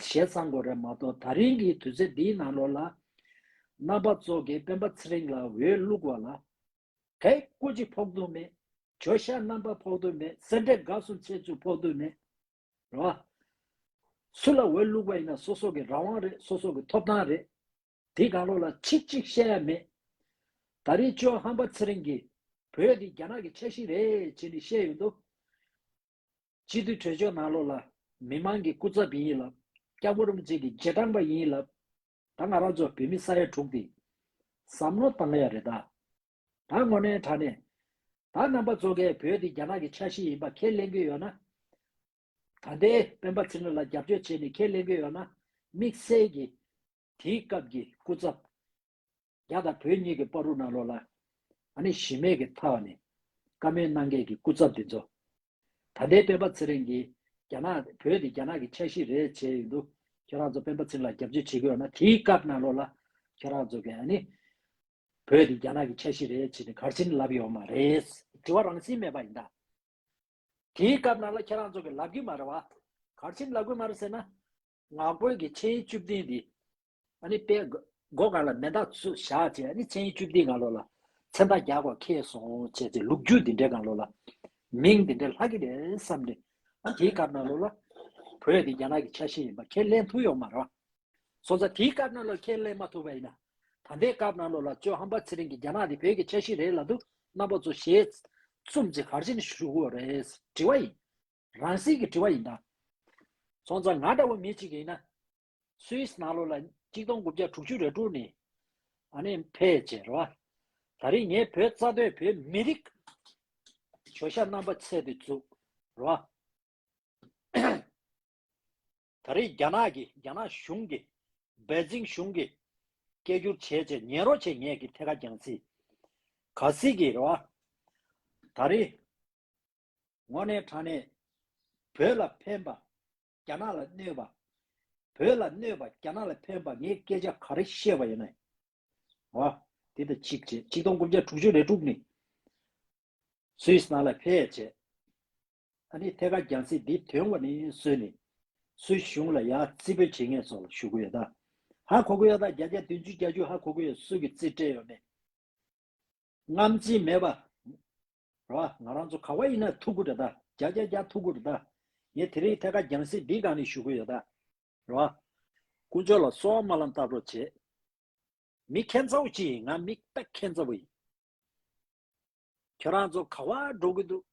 ཞེ་ཚང་དགོས་རེད་མ་གཏོགས་ད་རིང་གི་དུས་ཚོད་འདིའི་ནང་ལོགས་ལ། རྣམ་པ་ཚོགས་ཀྱི་སྤེན་པ་ཚེ་རིང་ལ་འོས་བླུགས་བ་ལ། དེ་སྐུ་གཅིག་ཕོག་ཐུག་མེད། བྱོ་ཤ་རྣམ་པར་ཕོག་ཐུག་མེད་གསེར་འབྲས་དགའ་གསུམ་ཚེ་ཚུད་ཕོག་ཐུག་མེད། རེད་བ། སུ་ལ་འོས་བླུགས་པ་ཡིན་ན་སོ་སོ་གི་རང་དབང་རེད་སོ་སོ་གི་ཐོབ་ཐང་རེད། དེའི་གང་ལོག་ལ་ཆིག་གཅིག་བཤད་ཡ་མེད། ད་རེས་ཅོ་ཧམ་པ་ཚེ་རིང་གིས་བོད་འདི་རྒྱ་ནག་གི་ཆ་ཤིག་རེད་ཅེས་ནི་བཤད་ཡོད་འདུག། སྤྱི་འཐུས་གྲོས་ཆོད་ནང་ལོག་ལ་མི་མང་གི་སྐུ་ཚབ་ཡིན་ལབ་སྐྱག་འབུ་རུམ་བརྩེགས་ཀྱི་རྗེས་འབྲང་པ་ཡིན་ལབ་ད་ང་རང་ཚོ་བོད་མི་ས་ཡ་དྲུག་འདི། བསམ་བློ་བཏང་ཡ་རེད་ད། ད་དངོས་གནས་དྲ་གནས། ད་རྣམ་པ་ཚོ་གས་བོད་འདི་རྒྱ་ནག་གི་ཆ་ཤིས་ཡིན་པ་ཁས་ལེན་གི་ཡོད་ན། ད་ལྟའི་སྤེན་པ་ཚེ་རིང་ལ་རྒྱབ་སྐྱོར་བྱས་ནས་ཁས་ལེན་གི་ཡོད་ན། དམིགས་བསལ་གྱི། དེའི་སྐབས་ཀྱི་སྐུ་ཚབ། རྒྱ་དང་བོད་གཉིས་ཀྱི་པར་རུ་ནང་ལོགས་ལ། ཨ་ནི་གཞི་མེད་ཀྱི་ཐ་བ་ནས། བཀའ་མོལ་གནང་མཁན་གྱི་སྐུ་ཚབ་འདི་ཚོ། ད་ལྟའི་སྤེན་པ་ཚེ་རིང་གིས་རྒྱ་ནག་བོད་དེ་རྒྱ་ནག་གི་ཆ་ཤིས་རེད་བྱས་ཡོད་འདུག་ཁྱོད་རང་ཚོ་སྤེན་པ་ཚེ་རིང་ལ་རྒྱབ་སྐྱོར་བྱེད་གི་ཡོད་ན་དེའི་སྐབས་ནང་ལོགས་ལ་ཁྱོད་རང་ཚོ་གིས་ཨ་ནི། བོད་དེ་རྒྱ་ནག་གི་ཆ་ཤིས་རེད་བྱས་ནས་གར་ཕྱིན་ལབ་ཡོང་མ་རེད། དྲི་བ་རང་བཞིན་མེད་པ་ཡིན་ད། དེའི་སྐབས་ནང་ལ་ཁྱོད་རང་ཚོ་གིས་ལབ་གི་མ་རེད་བ། གར་ཕྱིན་ལབ་གི་མ་རེད་ཟེར་ན། ནག་པོའི་གི་ཆེའི་བཅུ་བདུན་དེ། ཨ་ནི་པའི། སྒོ་གང་ལ་མེ་མདག་ཚུལ་བཞག་ཅེས་ཨ་ནི་མཚན་ཡིན་བཅུ་བདུན་གང་ལོ་ལ། མཚན་མདག་རྒྱག་གོ་ཁེལ་སོང་བྱས་ཚེ་ལུག་རྒྱུད་འདི་འདྲའི་གང་ལོ་ལ། མིང་འདི་འདྲའི་ལྷག་གི་རེད་བསམ་ནས། ཨ་དེའི་སྐབས་གནང་ལོ་ལ། བོད་འདི་རྒྱ་ནག་གི་ཆ་ཤས་ཡིན་པ་ཁས་ལེན་ཐུབ་ཡོག་མ་རེད། སོ་ས་དེའི་སྐབས་གནང་ལོ་ཁས་ལེན་མ་ཐུབ་པ་ཡིན། ད་ལྟའི་སྐབས་གནང་ལོ་ལ་ཅོ་ཧམ་པ་ཚེ་རིང་གིས་རྒྱ་ནག་འདི་བོད་ཀྱི་ཆ་ཤས་རེད་ལབ་འདུག་རྣམ་པ་ཚོ་ཞེས། གསུམ་གཅིག་གར་ཕྱིན་ཞུ་དགོས་རེད་དྲི་བ་ཡིན། རང་བཞིན་གྱི་དྲི་བ་ཡིན། སོང་ཙང་ང་འདྲ་བོ་མི་གཅིག་ཡིན། Swiss ནང་ལོ་ལ་གཅིག་སྟོང་དགུ་བརྒྱ་དྲུག་ཅུ་རེ་དྲུག་ནས་ཕལ་ཆེར་རེད་བ། ད་རེས་ངས་བོད་རྩ་དོན་བོད་མི་རིགས་བྱོལ་ཤ་རྣམ་པ་ཚད་དུ་བཅུག་རེད་བ། ད་རེས་རྒྱ་ནག་གི་རྒྱ་ནག་གཞུང་གི་བེ་ཅིང་གཞུང་གི་སྐད་སྒྱུར་བྱས་བྱས་ཉན་རོགས་བྱས་ངས་གི་ཐད་ཀ་གྱང་སི། ག་སི་གི་རེད་བ། ད་རེས་ངོ་ནས་དྲ་ནས་བོད་ལ་ཕན་པ་རྒྱ་ནག་ལ་གནོད་པ། བོད་ལ་གནོད་པ་རྒྱ་ནག་ལ་ཕན་པ་ངས་སྐད་ཆ་ག་རེ་བཤད་པ་ཡིན། ཨ། དེ་ལྟར་གཅིག་བྱས་ཆིག་སྟོང་དགུ་བརྒྱ་དྲུག་ཅུ་རེ་དྲུག་ནས། Swiss ནང་ལ་ཕེབས་བྱས། ཨ་ནི་ཐད་ཀར་རྒྱང་སྲིད་འདི་དོན་ངོ་ནས་བཟོས་ནས། Swiss གཞུང་ལ་ཡང་རྩིས་འབུལ་བྱེད་མཁན་སོགས་ལ་ཞུ་གི་ཡོད། ཧ་གོ་གི་ཡོད་ད་བརྒྱ་བརྒྱ་བདུན་ཅུ་བརྒྱ་ཅུ་ཧ་གོ་གི་ཡོད་སུ་གི་རྩིས་སྤྲད་ཡོད་མེད། རྔམ་བརྗིད་མེད་པ། ར་བ། ང་རང་ཚོ་ག་བ་ཡིན་ན་ཐུག་གུ་རེ་ད། རྒྱ་རྒྱ་རྒྱ་ཐུག་གུ་རེ་ད། ངས་དེ་རིང་ཐད་ཀ་རྒྱང་སྲིད་འདིའི་སྒང་ནས་བཞུགས་གི་ཡོད་ད། ར་བ། དཀོན་མཆོག་ལ་སོགས་སྨོན་ལམ་བཏབ་རོགས་བྱེད། མི་ཁེན་ཚ་བོ་ཅི་ཡིན་ང་མི་སྟ་ཁེན་ཚ་བོ་ཡིན། ཁྱོད་རང་ཚོ་ག་བ་འགྲོ་གི་འདུག།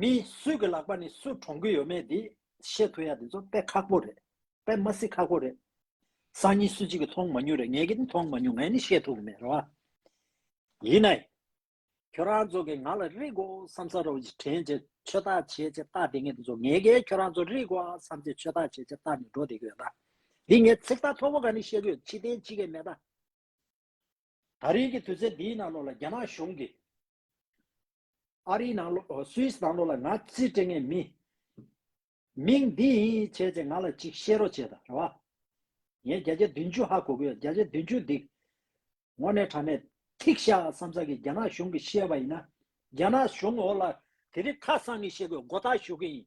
མི་སུས་ཀྱི་ལག་པ་ནས་སུ་དྲོངས་ཀྱི་ཡོད་མེད་དེ་ཤེས་ཐུབ་ཡ་དེ་ཚོ་དཔེ་ཁག་པོ་རེད་དཔེ་མ་སི་ཁག་པོ་རེད། སང་ཉིན་སུ་གཅིག་གི་མཐོང་མ་མྱོང་རེད་ངེད་ཀྱི་ནི་མཐོང་མ་མྱོང་ངས་ནི་ཤེས་ཐུབ་ཀྱི་མེད་རེད་བ། ཡིན་ནའི། ཁྱོད་རང་ཚོ་གིས་ང་ལ་རིག་གོ་བསམ་ས་རོ་ཅིག་དྲན་བྱེད་ཆོས་བདག་བྱེད་ཅེས་བཏགས་དེ་ངས་དེ་ཚོ་ངེད་ཀྱིས་ཁྱོད་རང་ཚོ་རིག་གོ་བསམ་བྱེད་ཆོས་བདག་བྱེད་ཅེས་བཏགས་ནས་འགྲོ་བསྡད་ཀྱི་ཡོད་ད། འདི་ངས་ཚིག་ཐག་ཐོག་པོ་ག་ནས་བཤད་ཀྱི་ཡོད་ཕྱི་བསྟན་ཅི་གས་མེད་ད། ད་རེས་ཀྱི་དུས་ཚོད་འདིའི་ནང་ལོགས་ལ་རྒྱ་ནག་གཞུང་གིས། ཨ་རིའི་ནང་ལོགས Swiss ནང་ལོགས་ལ་ང་ཚི་སྤྲེ་ངའི་མི། མིང་འདི་ཡིན་བྱས་ཚེ་ང་ལ་ཅིག་བཤད་རོགས་བྱས་ད་རེད་བ། ངས་བརྒྱ་ཆ་བདུན་བཅུ་ཧ་གོ་གི་ཡོད་བརྒྱ་ཆ་བདུན་བཅུ་འདིག། ངོ་ནས་དྲ་མེད། ཐིག་ཤ་བསམ་ས་གི་རྒྱ་ནག་གཞུང་གི་བཤད་པ་ཡིན་ན། རྒྱ་ནག་གཞུང་འོག་ལ་དེ་རིགས་ཁ་སང་གི་བཤད་དགོས་མགོ་ཐག་གཞུག་གི་ཡིན།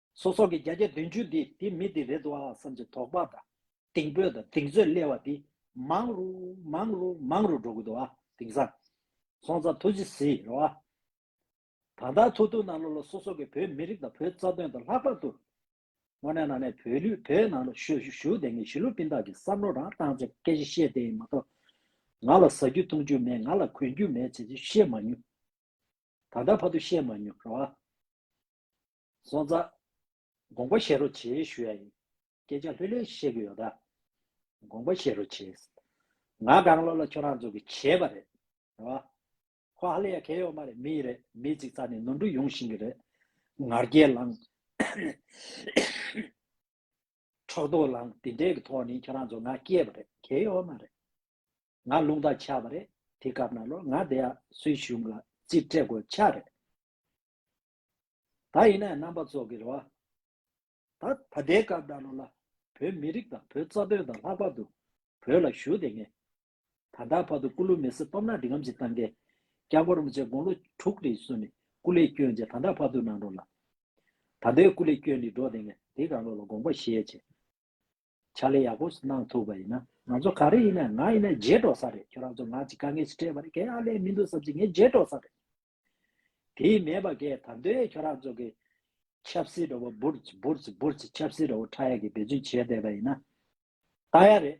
སོ་སོ་གི་བརྒྱ་བརྒྱ་བདུན་བཅུ་འདི་དེ་མི་དེ་རེད་འདུག་ཨང་བསམ་གྱི་དོགས་པ་དང་གཏིང་དཔོད་དང་གདེང་ཚོད་སླེ་བ་འདི་མང་རུ་མང་རུ་མང་རུ་འགྲོ་གི་འདུག་ཨ་དེང་སང་སོང་ཙང་ཐུགས་རྗེ་གཟིགས་རོགས་ཨ། ད་ལྟ་ཐུག་ཐུག་ནང་ལོག་ལོག་སོ་སོ་གི་བོད་མི་རིགས་དང་བོད་རྩ་དོན་དང་ལྷག་པར་དུ། དངོས་གནས་ནང་ནས་བོད་ལུས་བོད་ནང་ལ་བཞུགས་བཞུགས་དེ་ངས་ཞི་ལུ་པིན་དག་གི་བསམ་བློ་རང་བཏང་ཅིང་སྐད་ཆ་བཤད་བསྡད་ཡིན་མ་གཏོགས། ང་ལ་ཟ་རྒྱུ་འཐུང་རྒྱུ་མེད་ང་ལ་གོན་རྒྱུ་མེད་བྱས་ཚུལ་བཤད་མ་མྱོང། ད་ལྟ་བར་དུ་བཤད་མ་མྱོང་རོགས་ཨ། བཟོ་རྩ། དགོངས་པ་བཞེས་རོགས་བྱེད་ཞུ་ཡ་ཡིན། སྐད་ཆ་ལྷོད་ལྷོད་བཤད་གི་ཡོད་ད། དགོངས་པ་བཞེས་རོགས་བྱེད། ང་དགའ་བློ་ལ་ཁྱོད་རང་ཚོ་གི་བྱས་པ་རེད། རེད་བ། ཁོ་ཧ་ལས་ཡ་གལ་ཡོག་མ་རེད་མི་ཡི་རེད་མི་ཚིག་ཚག་ནས་ནོར་འཁྲུལ་ཡོང་བཞིན་གི་རེད། ངར་སྐད་ལངས། འཕྲོག་དོག་ལངས་དེ་འདྲས་གི་ཐོག་ནས་ཁྱོད་རང་ཚོ་ང་སྐྱེས་པ་རེད་གལ་ཡོག་མ་རེད། ང་རླུང་རྟ་ཆགས་པ་རེད་དེ་སྐབས་ན་ལོ་ང་དེ་ཡ་སུའི་གཞུང་ལ་རྩིས་སྤྲད་དགོས་ཆགས་རེད། ད་ཡིན་ན་རྣམ་པ་ཚོགས་ཀྱི་རེ་བ། ད་ད་ལྟའི་སྐབས་ད་ལོ་ལ་བོད་མི་རིགས་དང་བོད་རྩ་དོན་དང་ལྷག་པར་དུ་བོད་ལ་ཞུ་བདེ་ངེས། ད་ལྟ་བར་དུ་སྐུ་ལུས་མེ་སྲི་སྟོབས་ནག་འབྲི་ངམ་ཅི་བཏང་མཁན་སྐྱག་འབོར་མི་བྱེད་དགོངས་ལོ་དྲུག་རེའི་བསུན་ནས་སྐུ་ལས་བསྐྱོན་རྗེས་ད་ལྟ་བར་དུ་ནང་འགྲོ་ལ། ད་ལྟའི་སྐུ་ལས་བསྐྱོན་ནི་འགྲོ་བདེ་ངེས་དེ་གང་ལོ་ལ་དགོངས་པ་བཞེས་བྱས། ཕྱག་ལས་ཡག་པོ་ཞིག་གནང་ཐུབ་པ་ཡིན་ན། ང་ཚོ་ག་རེ་ཡིན་ན་ང་ཡིན་ན་རྗེས་འགྲོ་ས་རེད་ཁྱོད་རང་ཚོ་ང་ཅིག་དཀའ་ངལ་ཞིག་སྤྲད་པ་རེད་གས་ཨ་ལས་མི་འདུག་བསམ་ཚེ་ངས་རྗེས་འགྲོ་ས་རེད། དེ་མེད་པ་གས་ད་འདོད་ཁྱོད་རང་ཚོ་གས་ཆབ་སྲིད་འགྲོ་བ་འབུར་ཚིག་འབུར་ཚིག་འབུར་ཚིག་ཆབ་སྲིད་འགྲོ་བ་ཁྲ་ཡག་གས་འབད་བརྩོན་བྱས་བསྡད་པ་ཡིན་ན། ད་ཡག་རེད།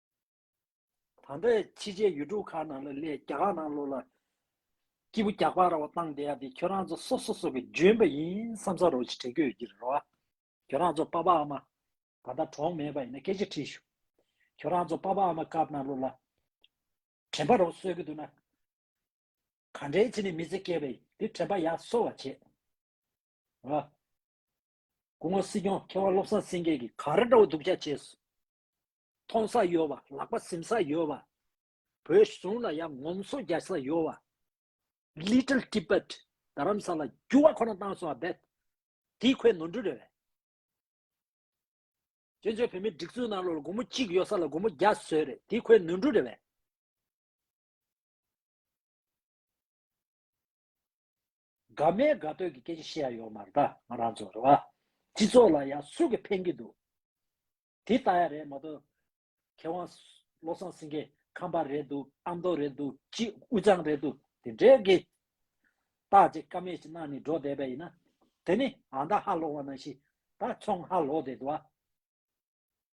ད་ལྟ་ཕྱི་རྒྱལ་ཡུལ་གྲུ་ཁག་ནང་ལ་སླེབས་རྒྱ་གར་ནང་ལོགས་ལ་སྐྱིད་པོ་རྒྱག་པ་ར་བ་བཏང་བསྡད་ཡ་དེ་ཁྱོད་རང་ཚོ་སོ་སོ་སོ་གི་འཇོན་པ་ཡིན་བསམ་ས་རོགས་ཅིག་དྲན་སྐུལ་གྱི་རོ་ཨ། ཁྱོད་རང་ཚོ་དཔའ་དཔའ་ཨ་མ། ད་ལྟ་གྲོགས་མེད་པ་ཡིན་ན་སྐད་ཆ་དྲིས་ཞུ། ཁྱོད་རང་ཚོ་དཔའ་དཔའ་ཨ་མ་སྐབས་ནང་ལོགས་ལ། དྲན་པ་རོགས་གསོལ་གི་འདུག་ན། ག་འདྲའི་ཚེ་ནི་མི་ཚེ་བསྐལ་བས་དེ་དྲན་པ་ཡ་གསོལ་བ་བྱས། རོ་ཨ། སྐུ་ངོ་སྲིད་སྐྱོང་མཁས་དབང་བློ་བཟང་སེང་གེ་གིས་ག་རེ་འདྲ་བོ་སྡུག་ཅག་བྱས་སོ། མཐོང་ས་ཡོད་བ་ལག་པ་གཟིམ་ས་ཡོད་བ། བོད་གཞུང་ལ་ཡང་ངོམ་སོ་རྒྱག་ས་ཡོད་བ། Little Tibet རྡ་རམ་ས་ལ་རྒྱུ་བ་ཁོ་ན་བཏང་སོང་བ་རྦད་དེ་ཁོའི་ནོར་འཁྲུལ་རེད་བས། བཙན་བྱོལ་བོད་མིའི་སྒྲིག་འཛུགས་ནང་ལོ་ལ་དགུང་མོ་གཅིག་ཡོད་ས་ལ་དགུང་མོ་བརྒྱ་བཟོས་རེད་དེ་ཁོའི་ནོར་འཁྲུལ་རེད་བས། དགའ་མའི་དགའ་སྟོན་གྱི་སྐད་ཆ་བཤད་ཡ་ཡོག་མ་རེད་ད་ང་རང་ཚོ་རེད་བ། སྤྱི་ཚོགས་ལ་ཡག་སུ་གི་ཕན་གི་འདུག་དེ་ལྟ་ཡ་རེད་མ་ཏོ། མཁས་དབང་བློ་བཟང་སེང་གེ་ཁམས་པ་རེད་འདུག་ཨ་མདོ་རེད་འདུག་སྤྱི་དབུ་ཅང་རེད་འདུག་དེ་འདྲའི་གི། བརྟག་དཔྱད་ཀ་མེད་ཞིག་གནང་ནས་འགྲོ་བསྡད་པ་ཡིན་ན། དེ་ནི་ཨ་མདའ་ཧ་ལོག་བ་ནང་བཞིན་ད་ཚོང་ཧ་ལོག་བསྡད་འདུག་བ།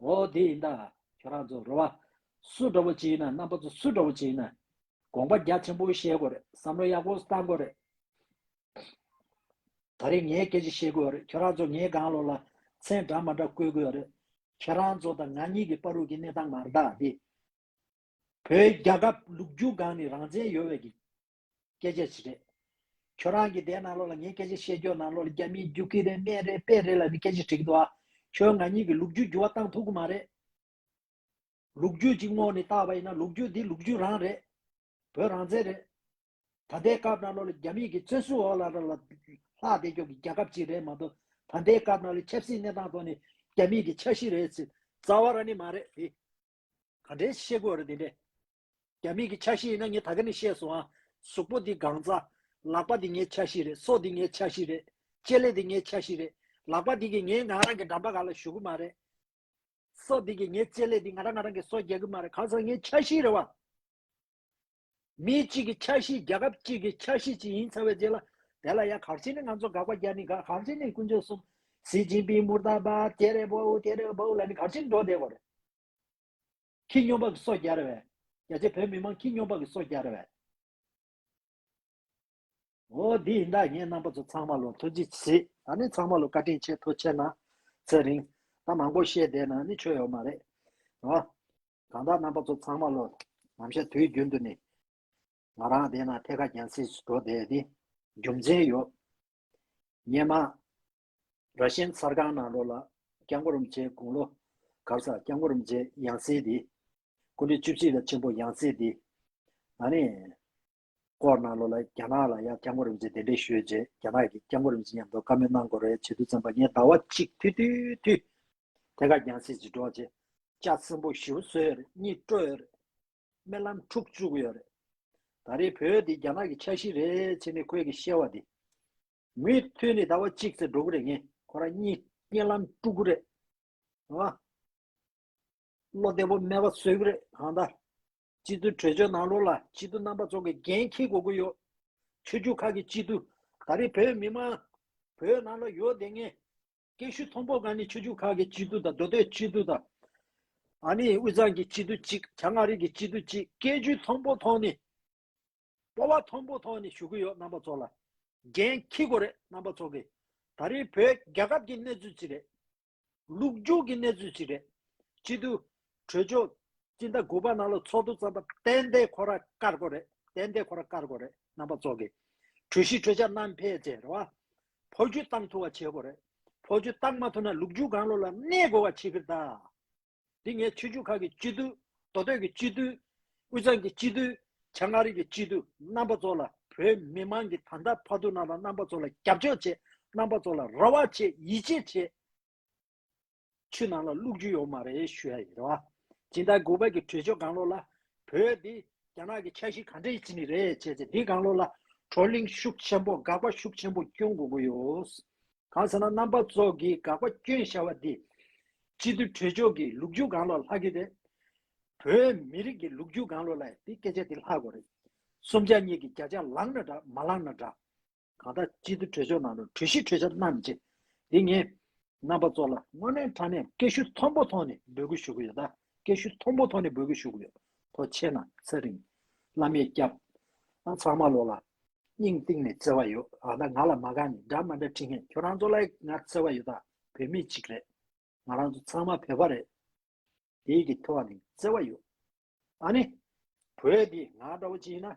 འོ་དེ་ཡིན་ད། ཁྱོད་རང་ཚོ་རོལ་བ། སུ་འདྲ་བོ་ཅི་ཡིན་ན་རྣམ་པ་ཚོ་སུ་འདྲ་བོ་ཅི་ཡིན་ན། དགོངས་པ་རྒྱ་ཆེན་པོ་བཞེས་དགོས་རེད་བསམ་བློ་ཡག་པོ་བཏང་དགོས་རེད། ད་རེས་ངས་སྐད་ཅིག་བཤད་དགོས་རེད་ཁྱོད་རང་ཚོ་ངའི་དགང་ལོ་ལ་མཚན་འདྲ་མ་འདྲ་བཀོད་དགོས་རེད། ཁྱེད་རང་ཚོ་དང་ང་གཉིས་ཀྱི་པར་རུས་ཀྱི་གནས་སྟངས་མ་འདྲ་སྟེ། བོད་རྒྱ་སྐབས་ལུགས་རྒྱུ་སྒང་ནི་རང་བཙན་ཡོད་བས་ཀྱི། སྐད་ཆ་ཅི་རེད། ཁྱོད་རང་གིས་དེའི་ནང་ལོགས་ལ་ངས་སྐད་ཆ་བཤད་རྒྱུའི་ནང་ལོགས་ལ་རྒྱ་མིའི་རྒྱུག་ཁྱི་རེད་སྨད་རེད་པད་རེད་ལ་ནི་སྐད་ཆ་དྲིས་གི་འདུག་ཨ། ཁྱོད་ང་གཉིས་ཀྱི་ལུག་རྒྱུད་འགྱུར་བ་བཏང་ཐུབ་གི་མ་རེད། ལུག་རྒྱུད་ཅིག་སྔོག་ནས་བཏགས་པ་ཡིན་ན་ལུག་རྒྱུད་དེ་ལུག་རྒྱུད་རང་རེད། བོད་རང་བཙན་རེད། ད་ལྟའི་སྐབས་ནང་ལོགས་ལ་རྒྱ་མིས་ཀྱི་བཙོན་ཟུར་འོག་ལ་ལ་ལ་ལ་ལྷག་བསྡད་རྒྱོག་གི་རྒྱལ་ཁབ་ཅིག་རེད་མ་གཏོགས་ད་ལྟའི་སྐབས་ནང་ལོགས་ཆབ་སྲིད་གནས་སྟངས་ཐོག་ནས་རྒྱ་མིས་ཀྱི་འཆར་གཞི་རེད་ཟེར་རྩ་བ་ར་ནི་མ་རེད་དེ། ག་འདྲའི་ཤེས་དགོས་རེད་དེ་འདྲས། རྒྱ་མིག་གི་ཆ་ཤེས་ཡིན་ན་ངས་ད་ག་ནས་ཤེས་སོང་ཨ། གཟུགས་པོ་འདི་སྒང་རྩ། ལག་པ་འདི་ངའི་ཆ་ཤེས་རེད་སོ་འདི་ངའི་ཆ་ཤེས་རེད། ལྕེ་ལེ་འདི་ངའི་ཆ་ཤེས་རེད། ལག་པ་འདི་གིས་ངས་ང་རང་གི་འགྲམ་པ་ག་ལ་གཞུག་གི་མ་རེད། སོ་འདི་གིས་ངའི་ལྕེ་ལེ་འདི་ང་རང་ང་རང་གི་སོ་རྒྱག་གི་མ་རེད་གང་ཟག་ངའི་ཆ་ཤེས་རེད་བ། མི་གཅིག་གི་ཆ་ཤེས་རྒྱལ་ཁབ་གཅིག་གི་ཆ་ཤེས་གཅིག་ཡིན་ཚར་བའི་རྗེས་ལ། དེ་ལ་ཡ་གར་བྱེད་ནི་ང་ཚོ་དགག་པ་རྒྱག་ནི་དགག་གར་བྱེད་ནི་ཀུན་སྤྱོད་གསུམ། སི་ཅིན་པིན་མུར་དཱ་བཱད་ཀེ་རེ་བོའུ་ཀེ་རེ་བོའུ་ལ་ནི་གར་བྱེད་འགྲོ་བསྡད་པ་རེད། ཁྱི་སྨྱོན་པ་གི་སོ་རྒྱར་བས། རྒྱ་ཆེ་བོད་མི་མང་ཁྱི་སྨྱོན་པ་གི་སོ་རྒྱར་བས། འོ་འདི་ཡིན་ད་ངས་རྣམ་པ་ཚོ་ཚང་མ་ལོ་ཐོ་ཅི་བྱེད་ད་ནི་ཚང་མ་ལོ་བཀའ་དྲིན་ཆེ་ཐོ་ཆེ་ན་ཚེ་རིང་ད་མང་པོ་བཤད་བསྡད་ན་ནི་ཆོ་ཡོ་མ་རེད་ཨོ་གང་ད་རྣམ་པ་ཚོ་ཚང་མ་ལོ་ནམ་བཤད་དུས་རྒྱུན་དུ་ནི་ང་རང་བསྡད་ན་ཐད་ཀ་རྒྱན་སྲིད་འགྲོ་བསྡད་དེ་རྒྱུ་མཚན་ཡོད་ཉེས་མ་ར་ཤན་མཚར་སྒང་ནང་རོ་ལ་སྐྱ་མགོ་རུམ་བྱེད་དགུང་ལོ་གར་ས་སྐྱ་མགོ་རུམ་བྱེད་ཡང་སྲིད་འདི། སྐུ་འདི་བཅུ་གཅིག་ལ་ཆེན་པོ་ཡང་སྲིད་འདི། ན་ནི། ཀོར་ནང་ལོ་ལ་རྒྱ་ནག་ལ་ཡ་སྐྱ་མགོ་རུམ་བྱེད་གདན་འདྲེན་ཞུས་རྗེས་རྒྱ་ནག་གིས་སྐྱ་མགོ་རུམ་བྱེད་ཉམས་རྟོགས་བཀའ་མོལ་གནང་དགོས་རེད་བྱེད་དུ་བཙན་པ་ངས་ཟླ་བ་གཅིག་ཐུ་ཐུ་ཐུ། དེ་ག་ཡང་སྲིད་ཅིག་སྒྲོག་རྗེས་ལྕགས་སྲིན་པོ་བཞི་བོ་གསོལ་ཡོད་རེད་གཉིད་སྤྲོ་ཡོད་རེད། རྨི་ལམ་འཁྲུག་བཅུག་ཡོད་རེད། ད་རེས་བོད་འདི་རྒྱ་ནག་གི་ཆ་ཤིས་རེད་ཕྱིན་ནི་ཁོས་གི་བཤད་བ་འདི། མོས་མཐུན་ནི་ཟླ་བ་གཅིག་ཚེ་འགྲོ་ཀུ་རེ་ངན་ཁོ་རང་གཉིས་སྐྱེན་ལམ་དཀྲུག་ཀུ་རེ་ཨང། བློ་བདེ་པོ་སྨྲས་པ་བཟོད་ཀུ་རེ་གང་ལྟ། སྤྱི་འཐུས་གྲོས་ཆོད་ནང་ལོག་ལ་སྤྱི་འཐུས་རྣམ་པ་ཚོ་གི་འགན་འཁྱེར་དགོས་ཀུ་ཡོད། ཆོས་རྒྱུད་ཁག་གི་སྤྱི་འཐུས་ད་རེས་བོད་མི་མང་བོད་ནང་ལ་ཡོད་དེ་ངས་སྐད་ཤུགས་མཐོན་པོ་གང་ནི་ཆོས་རྒྱུད་ཁག་གི་སྤྱི་འཐུས་དང་མདོ་སྟོད་སྤྱི་འཐུས་དང། ཨ་ནི་དབུས་གཙང་གི་སྤྱི་འཐུས་གཅིག་བྱང་མངའ་རིས་ཀྱི་སྤྱི་འཐུས་གཅིག་སྐད་ཇུས་མཐོན་པོ་ཐོག་ནི་སྤོ་བ་མཐོན་པོ་ཐོག་ནས་ཞུ་གི་ཡོད་རྣམ་པ་ཚོ་ལ། འགན་འཁྱི་གོ་རེད་རྣམ་པ་ཚོ་གི། ད་རེའི་བོད་རྒྱ་ཁབ་ཀྱི་གནས་ཚུལ་ཅིག་རེད། ལུགས་རྒྱུག་གི་གནས་ཚུལ་ཅིག་རེད། སྤྱི་འཐུས། གྲོས་ཆོག། སྤྱི་ཟླ་དགུ་པ་ནང་ལ་ཚོགས་འདུ་བརྩམས་པ་ཏན་ཏན་ཁོ་ར་ཀར་གོ་རེད་ཏན་ཏན་ཁོ་ར་ཀར་གོ་རེད་རྣམ་པ་ཚོ་གི། གྲོས་གཞི་གྲོས་འཆར་ནམ་ཕེད་བཅས་རེད་བ། ཕོ་རྒྱུད་གཏང་ཐུ་བ་བྱེད་གོ་རེད། ཕོ་རྒྱུད་གཏང་མ་ཐུ་ན་ལུགས་རྒྱུག་གང་ལོ་ལ་གནས་དགོས་བ་བྱེད་གི་རེད་ད། འདི་ངའི་ཆོས་བརྒྱུད་ཁག་གི་སྤྱི་འཐུས། མདོ་སྟོད་ཀྱི་སྤྱི་འཐུས། དབུས་གཙང་གི་སྤྱི་འཐུས། བྱང་མངའ་རིས་ཀྱི་སྤྱི་འཐུས་རྣམ་པ་ཚོ་ལ་བོད་མི་མང་གི་ད་ལྟ་ཕར་འདུག་ན་ལ་རྣམ་པ་ཚོ་ལ་རྒྱབ་སྐྱོར་བྱེད་རྣམ་པ་ཚོ་ལ་ར་བ་བྱེད་ཡིད་ཆེས་བྱེད། ཆུ་ནང་ལ་བླུགས་རྒྱུ་ཡོད་མ་རེད་ཞུ་ཡ་ཡིན་རེད་བ། སྦྱིན་བདག་གུས་པ་གི་གྲོས་ཆོད་གང་ལོག་ལ། བོད་འདི་རྒྱ་ནག་གི་ཆ་ཤིག་ག་འདྲ་ཡི་སྤྱི་མི་རེད་བྱས་ཚེ་འདི་གང་ལོག་ལ། བགྲོ་གླེང་ཤུགས་ཆེན་པོ་དགག་པ་ཤུགས་ཆེན་པོ་སྐྱོན་དགོས་ཀྱི་ཡོད། གང་ཟེར་ན་རྣམ་པ་ཚོགས་ཀྱི་དགག་པ་སྐྱོན་ཤར་བ་འདིས། སྤྱི་འཐུས་གྲོས་མཆོག་གིས་ལུག་རྒྱུག་གང་ལོག་ལྷག་གི་རེད། བོད་མི་རིགས་ཀྱི་ལུག་རྒྱུག་གང་ལོག་ལ་ཡང་དེ་སྐད་ཆ་དེ་ལྷག་གོ་རེད། གསུམ་ཆ་གཉིས་ཀྱི་བརྒྱ་ཆ་ལངས་ན་འདྲ་མ་ལངས་ན་འདྲ། གང་ལྟར་སྤྱི་འཐུས་གྲོས་མཆོག་ནང་དུ་གྲོས་གཞི་གྲོས་འཆར་གནང་མི་བྱེད། འདི་ངས་རྣམ་པ་ཚོགས་ལ་དངོས་གནས་དྲ་གནས་སྐད་ཤུགས་མཐོན་པོ་ཐོག་ནས་འབོད་སྐུལ་ཞུ་གི་ཡོད་ད། སྐད་ཤུལ་མཐོན་པོ་ཐོག་ནས་འབོད་སྐུལ་ཞུ་གི་ཡོད། ཐོ་ཆེ་ན་ཚེ་རིང། བླ་མས་སྐྱབས། ཨ་ཚང་མ་ལོ་ལ། སྙིང་གཏིང་ནས་བརྩེ་བ་ཡོད་ཨ་ད་ང་ལ་མ་ག་ནས་འདྲ་མ་འདྲ་དྲིས་ངས་ཁྱོད་རང་ཚོ་ལ་ང་བརྩེ་བ་ཡོད་ད་བོད་མི་གཅིག་རེད། ང་རང་ཚོ་ཚང་མ་བོད་པ་རེད། དེའི་གི་ཐོ་ནས་བརྩེ་བ་ཡོད་ཨ་ནི། བོད་འདི་ང་འདྲ་བོ་གཅིག་ཡིན་ན།